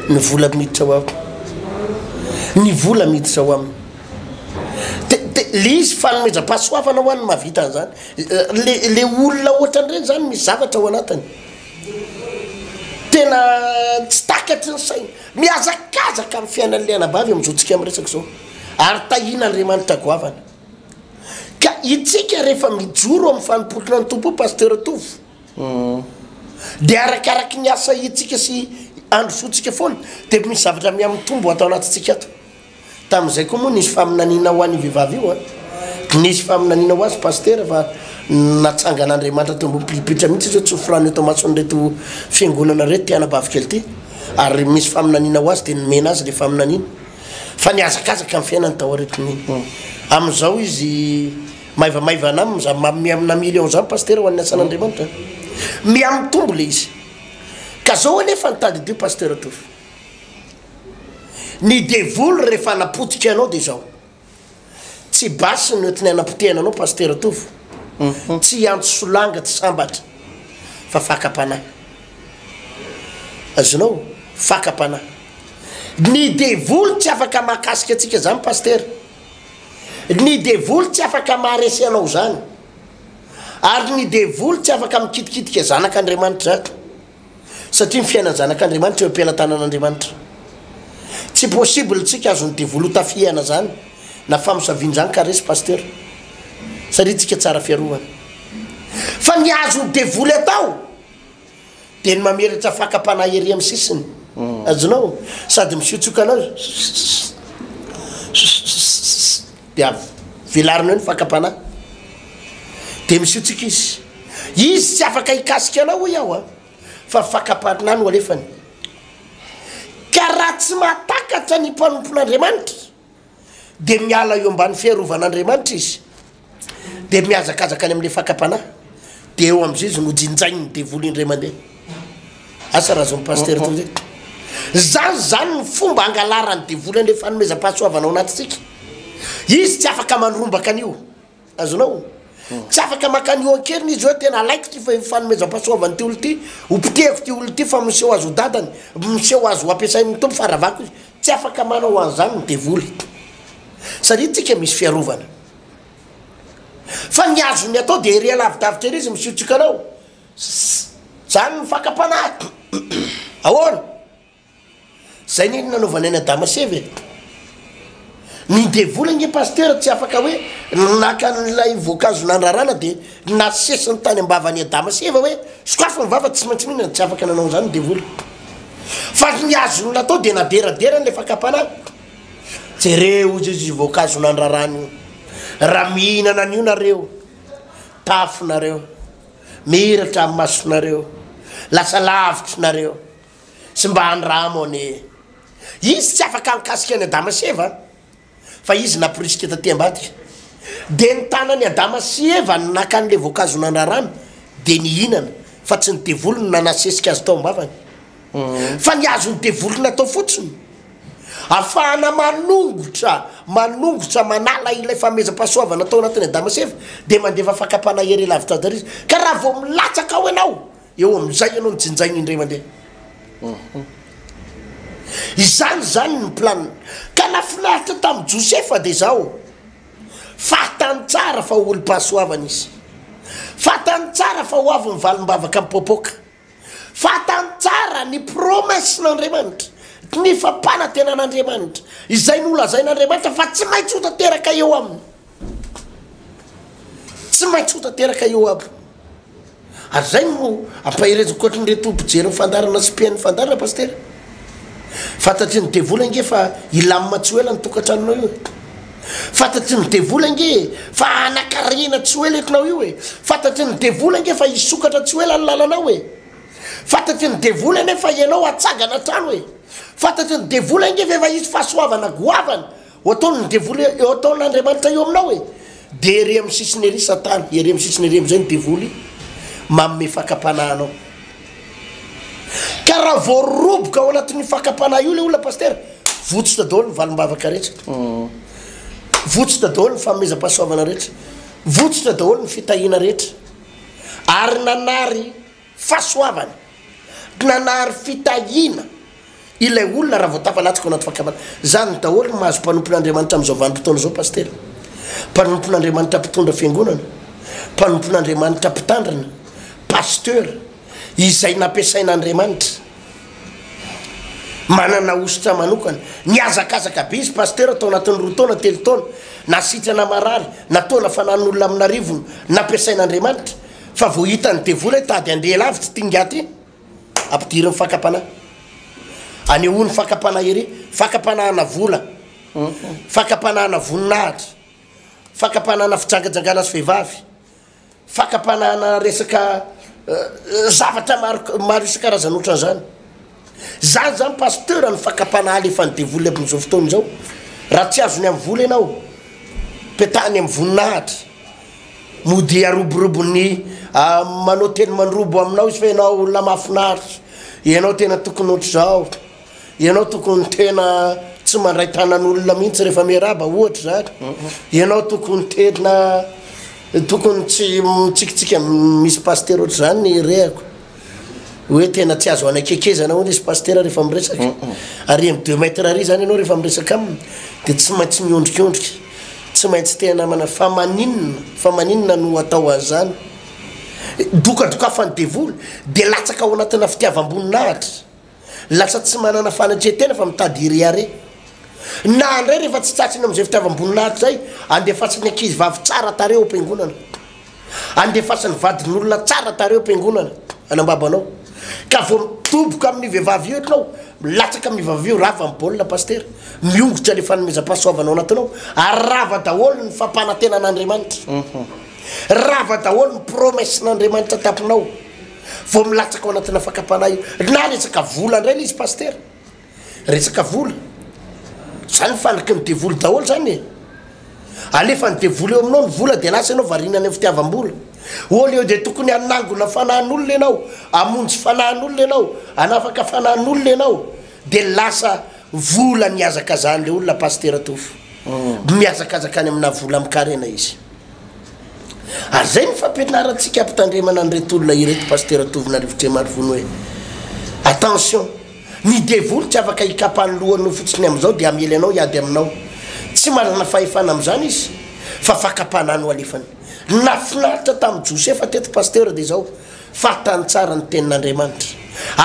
ny vola miditra ho aho. Ny vola miditra ho aminy. De de le izy fanomezam-pahasoavana ho an'ny mahavita an'izany. Le le olona ohatran'ireny zany misy zavatra ao anatiny. Tena tsy takatry ny saina. Mihazakazaka amin'ny fiainan'ilay anabavy amin'izao tsika miresaka izao ary tahiana Andriamanitra goavana. Ka itsika rehefa mijoro amin'ny fanompoana ny Tompo Pasteur Tovo dia arakaraky ny asa itsika sy androsoantsika foana dia misy zavatra miha mitombo ato anatintsika ato. Tamin'izay koa moa nisy faminaniana ho an'io vehivavy io an! Nisy faminaniana ho azy Pasitera fa natsangan'Andriamanitra teo ambony pilipitra mihitsy izy hoe tsy ho forano eto amason'ireto fiangonana ireto ity anabavikely ity ary misy faminaniana ho azy dia nomena azy ilay faminaniana fa nihazakazaka ny fiainany tao aoritin'ny amin'izao izy maivamaivana aminy izany ma- miha amina million izany Pasitera ho an'ny asan'Andriamanitra miha mitombo ilay izy ka zao anefa ny tadidio Pasitera Tovo Ny devoly rehefa hanapotika anao dia izao, tsy basy no entiny hanapotehana anao Pasitera Tovo, tsy hiantso solanga tsy sambatra fa fakam-panahy. Azonao? Fakam-panahy. Ny devoly tsy afaka mahakasika antsika izany Pasitera. Ny devoly tsy afaka maharesy anao izany. Ary ny devoly tsy afaka mikitikitika zanak'Andriamanitra izany. satria ny fiainan'ny zanak'Andriamanitra eo am-pelatanan'Andriamanitra. Tsy possible tsika azon'ny devoly hotafihana zany na famosavian'izany ka resy pasteur. Satria tsika tsara fiarovana. Fa ny azon'ny devoly atao dia ny mameretsa fakam-panahy ery amin'ny sisiny. Azonao? Sady misiotsioka anao. dia velarina eo ny fakam-panahy. Dia misiotsika izy. Izy tsy afaka hikasika anao hoy aho a, fa fakam-panahy no alefany. Ka raha tsy mahatakatra ny mpanompon'Andriamanitra, dia miala eo ambany fiarovan'Andriamanitra izy, dia mihazakazaka any amin'ilay fakam-panahy, dia eo amin'izay izy nojinjain'ny devoly indray mandeha. Asa raha zao ny pasitera toy izay. Zany zany ny fomba angalarany devoly anle fanomezam-pahasoavana ao anatintsika. Izy tsy afaka manrombaka an'io. Azonao? Tsy afaka maka an'io an-keriny izy hoe tena alaiko ty fanomezam-pahasoavan'ny ty olona ty, ho potehiko ty olona ty fa miseho azy ho dadany, miseho azy ho ampiasain'ny Tompo fa ravako izy. Tsy afaka manao an'izany ny devoly. Satria tsika misy fiarovana. Fa ny azony atao dia ery alavidavitra ery izy misiotsioka anao. Zany ny fakam-panahy. Ahoana? Zay ne ny nanaovanay an'i Adama sy Eva e. Ny devoly ange Pasteur tsy afaka hoe naka an'ilay voankazo nandrarana dia nasesiny tany am-bavan'i Adama sy Eva hoe sokafy ny vava tsy maintsy mihinana, tsy afaka nanao an'izany ny devoly. Fa ny azony natao dia naderaderany ilay fakam-panahy. Jereo hozy izy io voankazo nandrarana io. Raha mihinana an'io nareo, tafinareo. Miratra ny masonareo, lasa lavitry nareo, sy mba andramo anie. Izy tsy afaka hankasika an'i Adama sy Eva, fa izy namporisika taty ambadika. Dia ny tanan'i Adama sy Eva no naka an'ilay voankazo nandrarana, dia nihinana, fa tsy ny devoly no nanasesika azy tao am-bavany. Fa ny hazon'ny devoly natao fotsiny. Afahana manongotra manongotra manala ilay fanomezam-pahasoavana tao anatin'i Adama sy Eva, dia mandefa fakam-panahy ery lavitra azy izy. Ka raha vao milatsaka ao ianao, eo amin'izay ianao no jinjaina indray mandeha. Izany izany ny planiny. Ka nahafinaritra tamin'i Josefa dia izao, fantany tsara fa olom-pahasoavana izy. Fantany tsara fa ho avy ny valim-bavaka mipoapoaka. Fantany tsara ny promesse n'Andriamanitra, ny fampanantenan'Andriamanitra, izay nolazain'Andriamanitra fa tsy maintsy ho tanteraka eo aminy. Tsy maintsy ho tanteraka eo aby. Ary zay no ampaherezako an'ireo tompo mpijery ny fandaharana sy mpihaino ny fandaharana, Pasitera. Fantatry ny devoly ange fa hilamina tsy ho ela ny tokantranonao io e! Fantatry ny devoly ange e fa hanakarena tsy ho ela etonao io e! Fantatry ny devoly ange fa hisokatra tsy ho ela ny lalanao e! Fantatry ny devoly anie fa ianao hatsangana hatrany e! Fantatry ny devoly ange fa efa hisy fahasoavana goavana Ho ataon' ny devoly hoe, Eo ataon' Andriamanitra eo aminao e! Dia ery amin' ny sisiny ery Satana, ery amin' ny sisiny ery amin' izay ny devoly manome fakam-panahy anao. Ka raha voaroboka ao anatin' io fakam-panahy io ilay olona Pasitera, votsitra daholo ny valim-bavaka rehetra, votsitra daholo ny fanomezam-pahasoavana rehetra, votsitra daholo ny fitahiana rehetra, ary nanary. Fahasoavana. Nanary fitahiana ilay olona raha vao tafalatsaka ao anaty fahakamana. Izany daholo no mahazo mpanompon'Andriamanitra amin'izao vanim-potoana izao Pasitera. Mpanompon'Andriamanitra mpitondra fiangonana, mpanompon'Andriamanitra mpitandrina, Pasteur, izay nampiasain'Andriamanitra. Manana hosotra manokana. Nihazakazaka be izy Pasteur tao anatin'ny roa taona, telo taona. Na sitrana marary, na taona fanahin'olona amin'arivony, nampiasain'Andriamanitra. Fa vao hitan'ny devoly hoe tady andeha lavitra ity ingahy ity, ampidiriny fakam-panahy. Anehoany fakam-panahy ery, fakam-panahana vola, fakam-panahana voninahitra, fakam-panahana fijangajangana azy vehivavy, fakam-panahana resaka zavatra maro maro isan-karazany ohatran'izany. Zany zany pasteur ny fakapanahy alefan'ny devoly abn'izao fotoana izao. Raha tsy azony amin'ny vola ianao, petahany amin'ny voninahitra. Mody aroborobo ny ah, manao teny mandrobo aminao izy fa ianao olona mahafinaritra, ianao tena tokony ohatr'izao, ianao tokony tena tsy mandray tanan'olona mihitsy rehefa miarahaba ohatra izany, ianao tokony tena tokony tsy mitsikitsiky amin'ny misy pasteur ohatr'izany ny rehako. Oe tena tsy azo anakekezana hono izy pasitera rehefa miresaka. Ary amin'ny deux mètres ary zany ianao rehefa miresaka aminy dia tsy maintsy miondrikondrika, tsy maintsy te hanamana fa maninona, fa maninona no atao an'izany? Dokadokafan'ny devoly dia latsaka ao anatina fitiavam-boninahitra. Lasa tsy manana fanetren-tena fa mitady hirehareha. Na handray rehefa tsy tsatsiny amin'izay fitiavam-boninahitra izay, andefasany ankizivavy tsara tarehy ao am-piangonana. Andefasany vadin'olona tsara tarehy ao am-piangonana, anambabanao. Ka vao midoboka amin'io vehivavy io ianao, milatsaka amin'ny vehivavy io, rava ny baolina Pasitera. Miongotra ilay fanomezam-pahasoavana ao anatinao, ary rava daholo ny fampanantenan'Andriamanitra. Rava daholo ny promesse-n'Andriamanitra tampinao. Vao milatsaka ao anatina fakam-panahy io. Na resaka vola indray le izy Pasitera. Resaka vola. Zany fanaky ny devoly daholo zany e. Alefan'ny devoly eo aminao ny vola de lasa ianao variana any amin'ny fitiavam-bola. Au lieu de tokony hanangona fanahin'olona ianao, hamonjy fanahin'olona ianao, hanafaka fanahin'olona ianao de lasa vola no ihazakazahan'le olona Pasitera Tovo. Mihazakazaka any amina vola mikarena izy. Ary izay no fampianarantsika ampitandremana an'ireto olona ireto Pasitera Tovo Narivotriamarivono hoe attention, ny devoly tsy afaka hikapa ny lohanao fotsiny amin'izao dia hamely anao hiady aminao. Tsy manana fahefana amin'izany izy fa fakam-panahy no alefany. Ny nahafinaritra tamin'i Josefa teto Pasitera dia izao, fantany tsara ny tenin'Andriamanitra.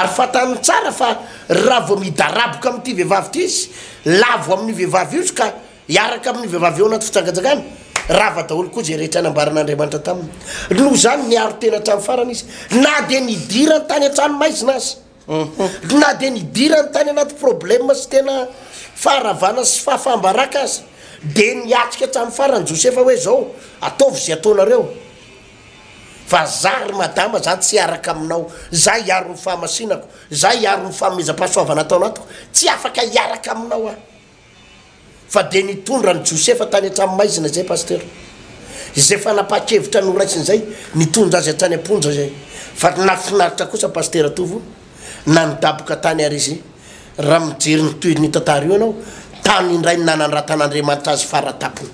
Ary fantany tsara fa raha vao midaraboka amin'ity vehivavy ity izy, lavo amin'io vehivavy io izy ka Hiaraka amin'ny vehivavy ao anaty fijangajangana, rava daholo koa izay rehetra nambaran'Andriamanitra taminy. Noho izany, niaro tena hatramin'ny farany izy, na dia nidirany tany an-tranomaizina aza. Na dia nidirany tany anaty problema sy tena faharavana sy fahafaham-baraka aza, dia niatrika hatramin'ny farany Josefa hoe, Izao, ataovy izay ataonareo, fa izaho ry madama, izaho tsy hiaraka aminao, izaho hiaro ny fahamasinako, izaho hiaro ny fanomezam-pahasoavana ataonao, tsy afaka hiaraka aminao aho. Fa dia nitondra an'i Josefa tany an-trano maizina izay Pasitera. Izay fanapahan-kevitra noraisiny izay, nitondra azy hatrany am-ponja izay. Fa nahafinaritra kosa Pasitera Tovo na nidaboka tany ary izy. Raha mijery ny tohin'io tantara io ianao, tany indray no nanandratan'Andriamanitra azy faratapony.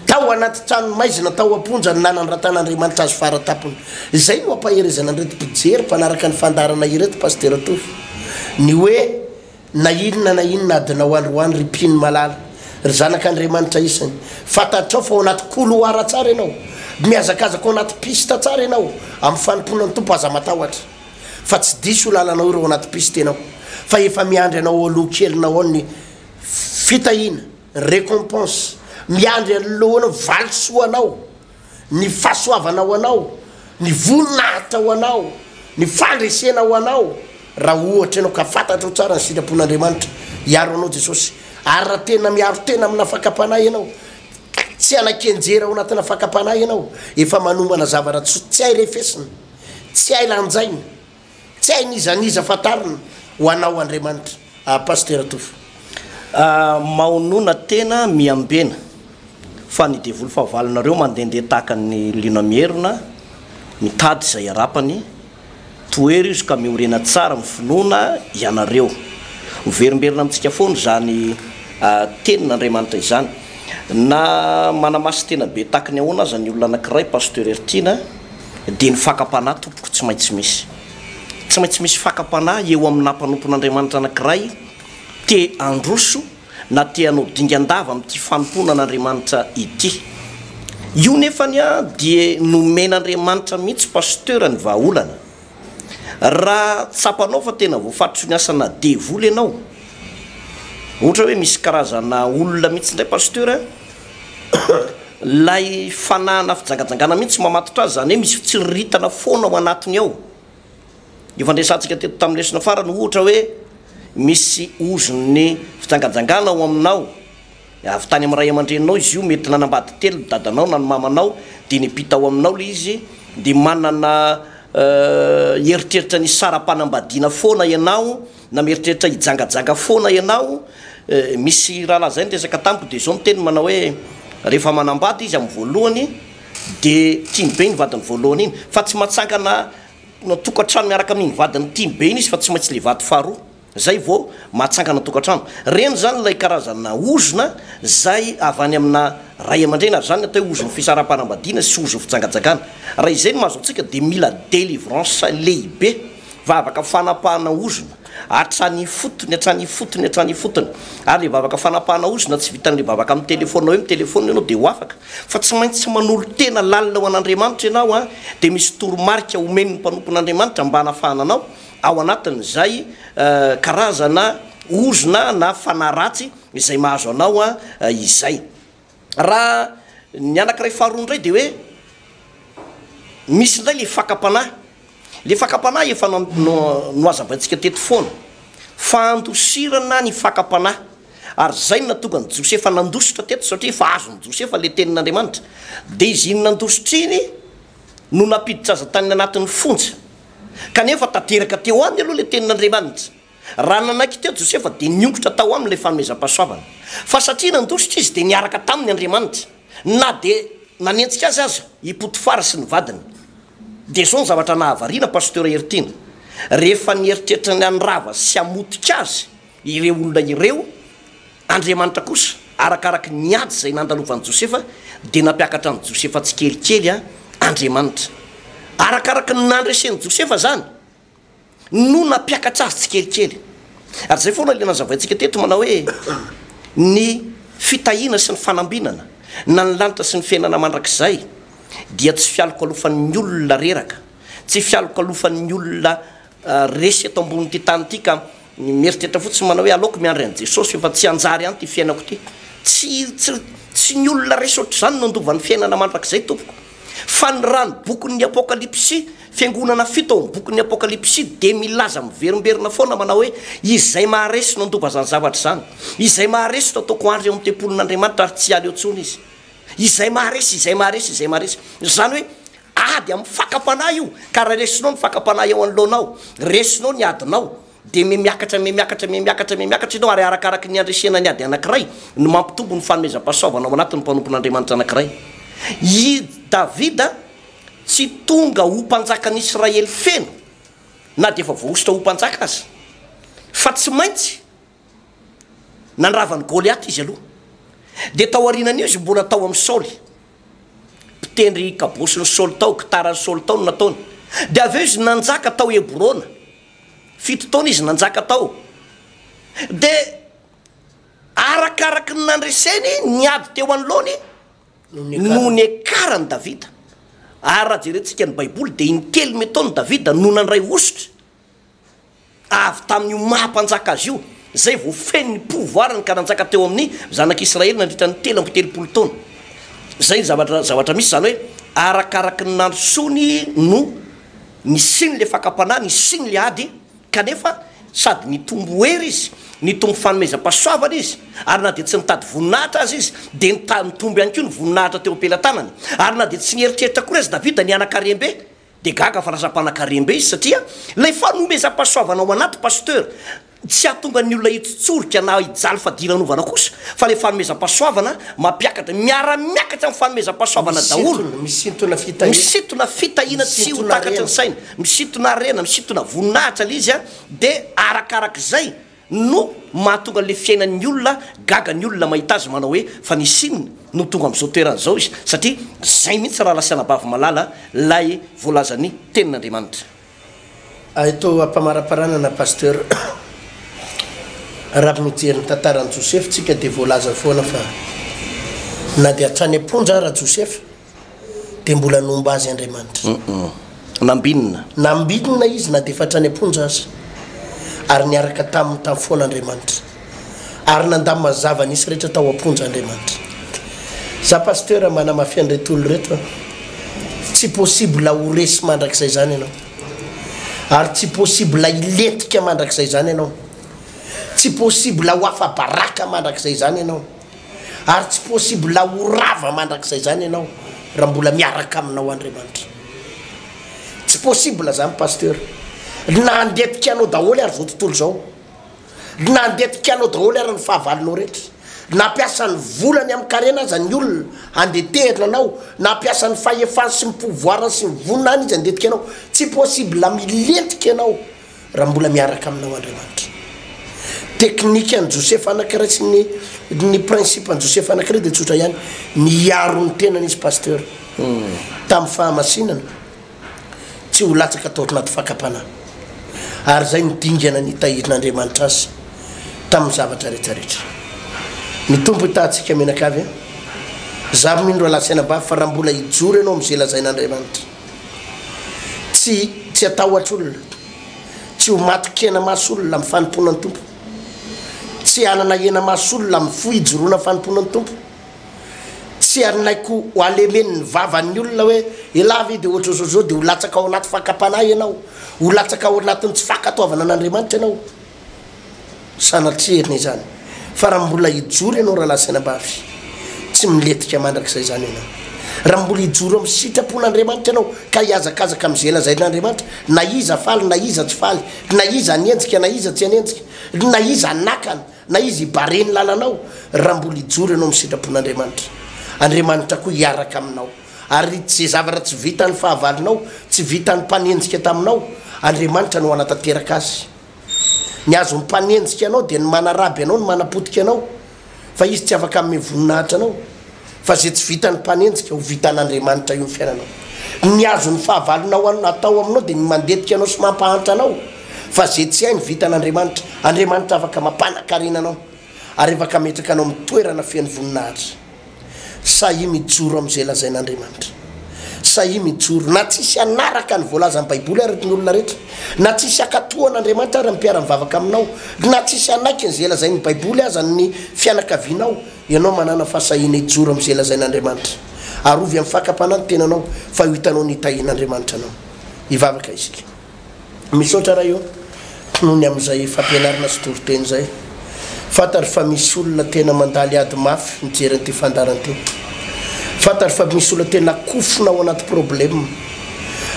Tao anaty trano maizina tao am-ponja no nanandratan'Andriamanitra azy faratapony. Izay no ampaherezana an'ireto mpijery mpanaraka ny fandaharana ireto Pasitera Tovo. Ny hoe Na inona na inona adinao androany ry mpino malala, ry zanak' Andriamanitra isany, fantatrao fa ao anaty couloir tsara ianao, mihazakazaka ao anaty piste tsara ianao amin'ny fanompoana ny Tompo, aza matahotra fa tsy diso io lalanao io raha ao anaty piste ianao fa efa miandry anao ao aloha kelinao ao ny fitahiana, ny recompense, miandry anoloanao valisoanao. ny fahasoavana ho anao, ny voninahitra ho anao, ny fandresena ho anao, raha ohatra ianao ka fantatrao tsara ny sitrapon'Andriamanitra, hiaro anao Jesosy. Ary raha tena miaro tena amina fakam-panahy ianao, tsy hanan-kenjera ao anatina fakam-panahy ianao, efa manomana zavatra tsy hay refesina, tsy hay lanjaina, Tsy hainy iza n'iza fantarina ho anao Andriamanitra ah Pasitera Tovo ah Maonona tena miambena fa ny devoly fahavalonareo mandendeha tahaka ny liona mierona mitady izay harapany Tohery izy ka miorena tsara ny finoana ianareo Miverimberina amintsika foana izany ah tenin' Andriamanitra izany Na manamasin-tena be tahaka ny ahoana aza ny olona anakiray Pasteur Hertiana dia ny fakam-panahy tompoko tsy maintsy misy. Tsy maintsy misy fakam-panahy eo amin'ny naha mpanompon'Andriamanitra anankiray te handroso na te hanao dingan-dava amin'ity fanompoana an'Andriamanitra ity. Io nefany dia nomen'Andriamanitra mihitsy Pasteur ny vahaolana. Raha tsapanao fa tena voafatotry ny asana devoly ianao, ohatra hoe misy karazana olona mihitsy indray Pasteur, Ilay fanahana fijangajangana mihitsy mamatotra azy, izany hoe misy fitsiriritana foana ao anatiny ao. Io fandresantsika teto tamin'ny lesona farany ohatra hoe misy ozon'ny fijangajangana ao aminao, avy tany amin'ny ray aman-dreninao izy io, mety nanambady telo ny dadanao na ny mamanao dia niampita ao aminao ilay izy, dia manana eritreritra ny hisara-panambadiana foana ianao, Na mieritreritra hijangajanga foana ianao, misy rahalahy izay niresaka tamiko dia izao ny teniny manao hoe, rehefa manambady izy amin'ny voalohany dia tiany be iny vadiny voalohany iny, fa tsy matsangana tokantrano miaraka amin'iny vadiny tiany be iny izy fa tsy maintsy ilay vady faharoa izay vao mahatsangana tokantrano. Reny izany ilay karazana ozona izay avy any amina ray aman-dreny ary izany no atao hoe ozon'ny fisaraham-panambadiana sy ozon'ny fijangajangana. Raha izay no mahazo antsika dia mila délivrance lehibe. Vavaka fanapahana ozona hatrany ifotony, hatrany ifotony, hatrany ifotony. Ary ilay vavaka fanapahana ozona tsy vitan'ilay vavaka mitelefona hoe mitelefona ianao dia ho afaka fa tsy maintsy manolo-tena lalina ho an'Andriamanitra ianao an! dia misy toromarika omen'ny mpanompon'Andriamanitra mba hanafahana anao ao anatin'izay karazana ozona na fanahy ratsy izay mahazo anao izay. Raha ny anankiray faharoa indray dia hoe misy indray ilay fakam-panahy. Ilay fakam-panahy efa nohazavaintsika teto foana. Fandosirana ny fakam-panahy. Ary izay no nahatonga an'i Josefa nandositra teto, satria efa azon'i Josefa ilay tenin'Andriamanitra. Dia izy iny nandositra iny no nampiditra azy tany anatin'ny fonja. Kanefa tanteraka teo aminy aloha ilay tenin'Andriamanitra. Raha nanaiky teo Josefa, dia niongotra tao aminy ilay fanomezam-pahasoavana. Fa satria nandositra izy, dia niaraka taminy Andriamanitra, na dia nanenjika azy aza i Potifara sy ny vadiny. Dia izao ny zavatra nahavariana Pasteur Heritiana, rehefa nieritreritra ny handrava sy hamotika azy ireo olona ireo, Andriamanitra kosa, arakaraky ny ady izay nandalovan'i Josefa, dia nampiakatra an'i Josefa tsikelikely Andriamanitra. Arakaraky ny nandresen'i Josefa izany. no nampiakatra azy tsikelikely. Ary izay foana ilay nazavaintsika teto manao hoe ny fitahiana sy ny fanambinana na ny lanitra sy ny fiainana mandrakizay dia tsy fialokalofan'ny olona reraka, tsy fialokalofan'ny olona resy eto ambonin'ity tany ity ka. Ny mieritreritra fotsiny manao hoe aleoko miandry an'i Jesosy io fa tsy hanjary any ity fiainako ity. Tsy tsy tsy ny olona resy ohatr'izany no handova ny fiainana mandrakizay tompoko. Fa ny raha ny bokin'ny Apokalypsy, fiangonana fito ao amin'ny bokin'ny Apokalypsy dia milaza miverimberina foana manao hoe izay maharesy no handova izany zavatra izany. Izay maharesy no ataoko handry ao amin'ny tempolin'Andriamanitra ary tsy aleo intsony izy. Izay maharesy, izay maharesy, izay maharesy. Izany hoe. Ady amin'ny fakam-panahy io, ka raha resinao ny fakam-panahy eo anoloanao, resinao ny adinao, dia mihamiakatra, mihamiakatra, mihamiakatra, mihamiakatra ianao, ary arakaraky ny handresena ny ady anankiray no mampitombo ny fanomezam-pahasoavana ao anatin'ny mpanompon'Andriamanitra anankiray. I Davida tsy tonga ho mpanjakan'Israely feno, na dia efa voahosotra ho mpanjaka aza, fa tsy maintsy Nandrava an'i Goliata izy aloha. Dia taorianan'io izy mbola tao amin'i Saoly. Mpitendry kabôsin'i Saoly tao, gitaran'i Saoly tao no nataony. Dia avy eo izy nanjaka tao Hebrona. Fito taona izy nanjaka tao. Dia arakaraky ny nandreseny ny ady teo anoloany no niakaran'i Davida. Ary raha jerentsika ny Baiboly dia intelo metaona Davida no nandray hosotra. Avy tamin'io maha mpanjaka azy io, izay vao feno ny pouvoir-ny ka nanjaka teo amin'ny zanak'i Israely nandritra ny telo amby telopolo taona. Izay ny zavatra, zavatra misy, izany hoe, arakaraky ny nandrosoany no nisian'ilay fakam-panahy, nisian'ilay ady, kanefa sady nitombo hery izy, nitombo fanomezam-pahasoavana izy, ary na dia tsy nitady voninahitra aza izy, dia nita-nitombo ihany koa ny voninahitra teo am-pelatanany. Ary na dia tsy nieritreritra akory aza Davida ny hanan-karem-be Dia gaga fa lasa mpanakarem-be izy satria ilay fanomezam-pahasoavana ao anaty Pasteur tsy hahatonga ny olona hitsotsorika na hijaly fadiranovana kosa fa ilay fanomezam-pahasoavana mampiakatra, miara-miakatra amin'ny fanomezam-pahasoavana daholo, misintona fitahiana tsy ho takatry ny saina, misintona harena, misintona voninahitra ilay izy dia arakarak'izay. no mahatonga an'ilay fiainan'ny olona gaga ny olona mahita azy manao hoe fa ny Chine no tonga amin'izao toerana izao izy satria zay mihitsy raha lasiana bavy malala lay voalazan'ny tenin'Andriamanitra. Hay toa ampamaraparanana Pasteur raha mijery ny tantaran'i Josefa tsika dia voalaza foana fa na dia hatrany am-ponja ara Josefa, dia mbola nomba azy Andriamanitra. Nambinina. Nambinina izy na dia efa hatrany am-ponja aza, ary niaraka taminy tany foana Andriamanitra. Ary nandà mazava nisy rehetra tao am-ponja Andriamanitra. Za Pasteur manamafy an'ireto olona ireto an, tsy possible ho resy mandrakizay izany ianao. Ary tsy possible hilentika mandrakizay izany ianao. Tsy possible ho afa-baraka mandrakizay izany ianao. Ary tsy possible ho rava mandrakizay zany ianao raha mbola miaraka aminao Andriamanitra. Tsy possible zany Pasteur. Na handeha tikanao daholo ary zao tontolo zao. Na handeha tikanao daholo ary ny fahavalonao rehetra. Na hampiasa ny volany amin'ny karena aza ny olona handeha tehina anao, na hampiasa ny fahefany sy ny pouvoirany sy ny voniny any izy handeha tikanao. Tsy possible milentika ianao. raha mbola miaraka aminao Andriamanitra. Teknikan'i Josefa anankiray sy ny ny principe an'i Josefa anankiray dia tsotra ihany, niaro ny tenany izy pasteur hmm. tamin'ny fahamasinana tsy ho latsaka tao anaty fakam-panahy. Ary izay ny dingana nitahirin'Andriamanitra azy tamin'ny zavatra rehetra rehetra. Ny tompo hitahantsika menakavy a. Eh? Za mindro alasaina mba fa raha mbola hijoro ianao amin'izay lazain'Andriamanitra. Tsy tsy hatahotra olona, tsy ho matin-kena maso olona amin'ny fanompoana ny Tompo, tsy hanana hena maso olona amin'ny fo hijoroana fanompoana ny Tompo, tsy hanaiko ho halemen'ny vavan'ny olona hoe elah ve dia ohatra izao izao dia ho latsaka ao anaty fakam-panahy ianao, ho latsaka ao anatin'ny tsy fankatoavana an'Andriamanitra ianao. Sanatria enao izany fa raha mbola hijoro ianao raha lazaina mba avy tsy miletika mandrakizay izany ianao. Raha mbola hijoro amin'ny sitrapon'Andriamanitra ianao ka hihazakazaka amin'ny izay lazain'Andriamanitra na iza faly na iza tsy faly, na iza hanenjika na iza tsy hanenjika, na iza hanakana na iza hibare ny lalanao, raha mbola hijoro ianao amin'ny sitrapon'Andriamanitra, Andriamanitra koa hiaraka aminao ary tsy izay zavatra tsy vitan'ny fahavalonao, tsy vitan'ny mpanenjika taminao, Andriamanitra no hanatanteraka azy. Ny azon'ny mpanenjika anao dia ny manaraby anao, ny manapotika anao, fa izy tsy afaka hanome voninahitra anao, fa izay tsy vitan'ny mpanenjika, ho vitan'Andriamanitra io ny fiainanao. Ny azon'ny fahavalonao atao aminao dia ny mandetika anao sy mampahantra anao, fa izay tsy hainy, vitan'Andriamanitra. Andriamanitra afaka mampanan-karena anao, ary afaka hametraka anao amin'ny toerana feno voninahitra. Sahia mijoro amin'izay lazain'Andriamanitra. Sahia mijoro. Na tsy hisy hanaraka ny voalazan'ny Baiboly àry ny olona rehetra, na tsy hisy hankatò an'Andriamanitra àry ny mpiara-mivavaka aminao, na tsy hisy hanaiky an'izay lazain'ny Baiboly aza ny fianakavianao, ianao manàna fahasahiana hijoro amin'izay lazain'Andriamanitra. Arovy amin'ny fakam-panahy ny tenanao, fa ho hitanao ny hitahian'Andriamanitra anao. Hivavaka isika. Misaotra Ray ô! noho ny amin'izay fampianarana sy toriteny izay. Fantatro fa misy olona tena mandaly ady mafy mijery an'ity fandaharana ity. Fantatro fa misy olona tena kofona ao anaty problème.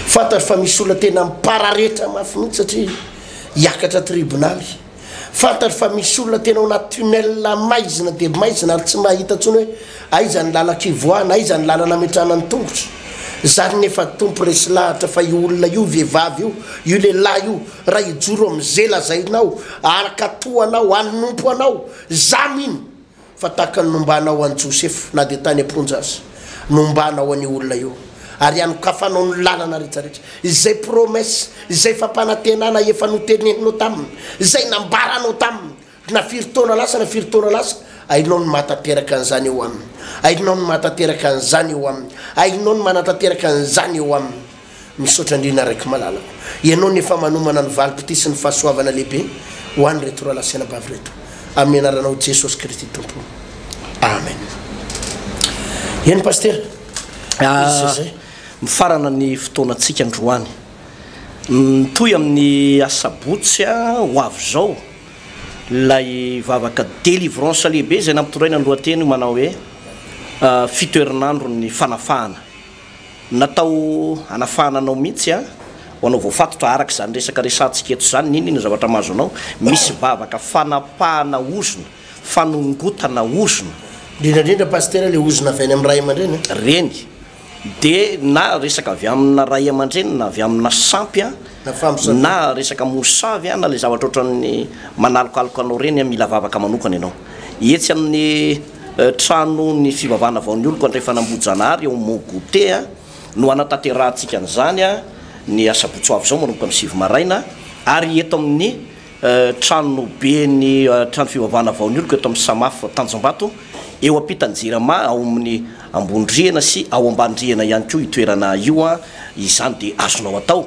Fantatro fa misy olona tena mipararetra mafy mihitsy satria hiakatra tribonaly. Fantatro fa misy olona tena ao anaty tunnel maizina dia maizina ary tsy mahita intsony hoe aiza ny lalaka ivoahana, aiza ny lalana ametrahana ny tongotra. Zany nefa Tompo resy lahatra fa io olona io, vehivavy io, io lehilahy io, raha hijoro amin'ze lazainao, araka toa anao, hanompo anao, za mino fa tahaka ny nombana ho an'i Josefa, na dia tany am-ponja aza, nombana ho an'io olona io, ary anokafanao ny lalana rehetrarehetra, izay promesse, izay fampanantenana efa noteneninao taminy, izay nambaranao taminy na firy taona lasa na firy taona lasa, hainao ny mahatanteraka an'izany eo aminy, hainao ny mahatanteraka an'izany eo aminy, hainao ny manatanteraka an'izany eo aminy. Misaotra indrindra Rakimalala o! Ianao no efa manomana ny valim-pitia sy ny fahasoavana lehibe ho an'ireto rahalahy sy anabavy ireto, amin'ny anaranao Jesosy Kristy Tompo. Amen. Eny Pasitera, izy sy izay. Mifarana ny fotoanantsika androany. Mitohy amin'ny asabotsy ho avy izao ilay vavaka delivrance lehibe izay nampitondraina ny lohateny manao hoe Fito herinandron'ny fanafahana. Natao hanafahana anao mihitsy an! Ho anao voafatotra araka izany resaka resahantsika eto izany, n'inona ny zavatra mahazo anao? Misy vavaka fanapahana ozona, fanongotana ozona. Indrindra indrindra Pasitera ilay ozona avy any amin'ny ray aman-dreny an! Reny. Dia na resaka avy amina ray aman-dreny na avy amina sampy an, Na famosabe. na resaka mosavy an, na ilay zavatra ohatran'ny manalokaloka anao ireny an, mila vavaka manokana ianao. Etsy amin'ny Tranon'ny fivavahana vao nioloko Andrefan'Ambohijanahary eo Mont Goûter no hanatanterahantsika an'izany ny asabotsy ho avy izao manomboka amin'ny sivy maraina ary eto amin'ny tranoben'ny trano fivavahana vao nioloko eto amin'ny Samaf Tanjombato eo ampitan'ny Jirama ao amin'ny Ambonirihana sy ao Ambanirihana ihany koa io toerana io izany dia azonao atao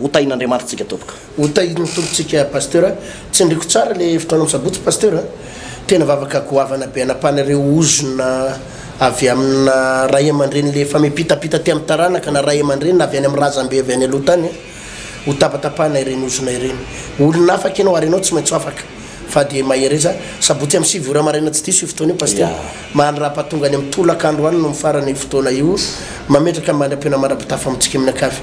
Ho tahin'Andriamanitra tsika tompoko. Ho tahin'ny Tompo tsika Pasteur. Tsindriko tsara le hevitra anao misabotsy Pasteur a. Tena vavaka goavana be anapahana ireo ozona avy amina ray amandreny le famipitapita aty amin'ny taranaka na ray amandreny na avy any amin'ny razambe avy any aloha tany a. Ho tapatapahana ireny ozona ireny. Olona afaka ianao ary ianao tsy maintsy ho afaka fa dia mahereza. Sabotsy amin'ny sivy ora maraina tsy diso io fotoana io Pasteur. Mahanrapa tonga any amin'ny tolakandro any no mifarana io fotoana io. Mametraka mandra-peo na mandra-pitafa amintsika mianakavy.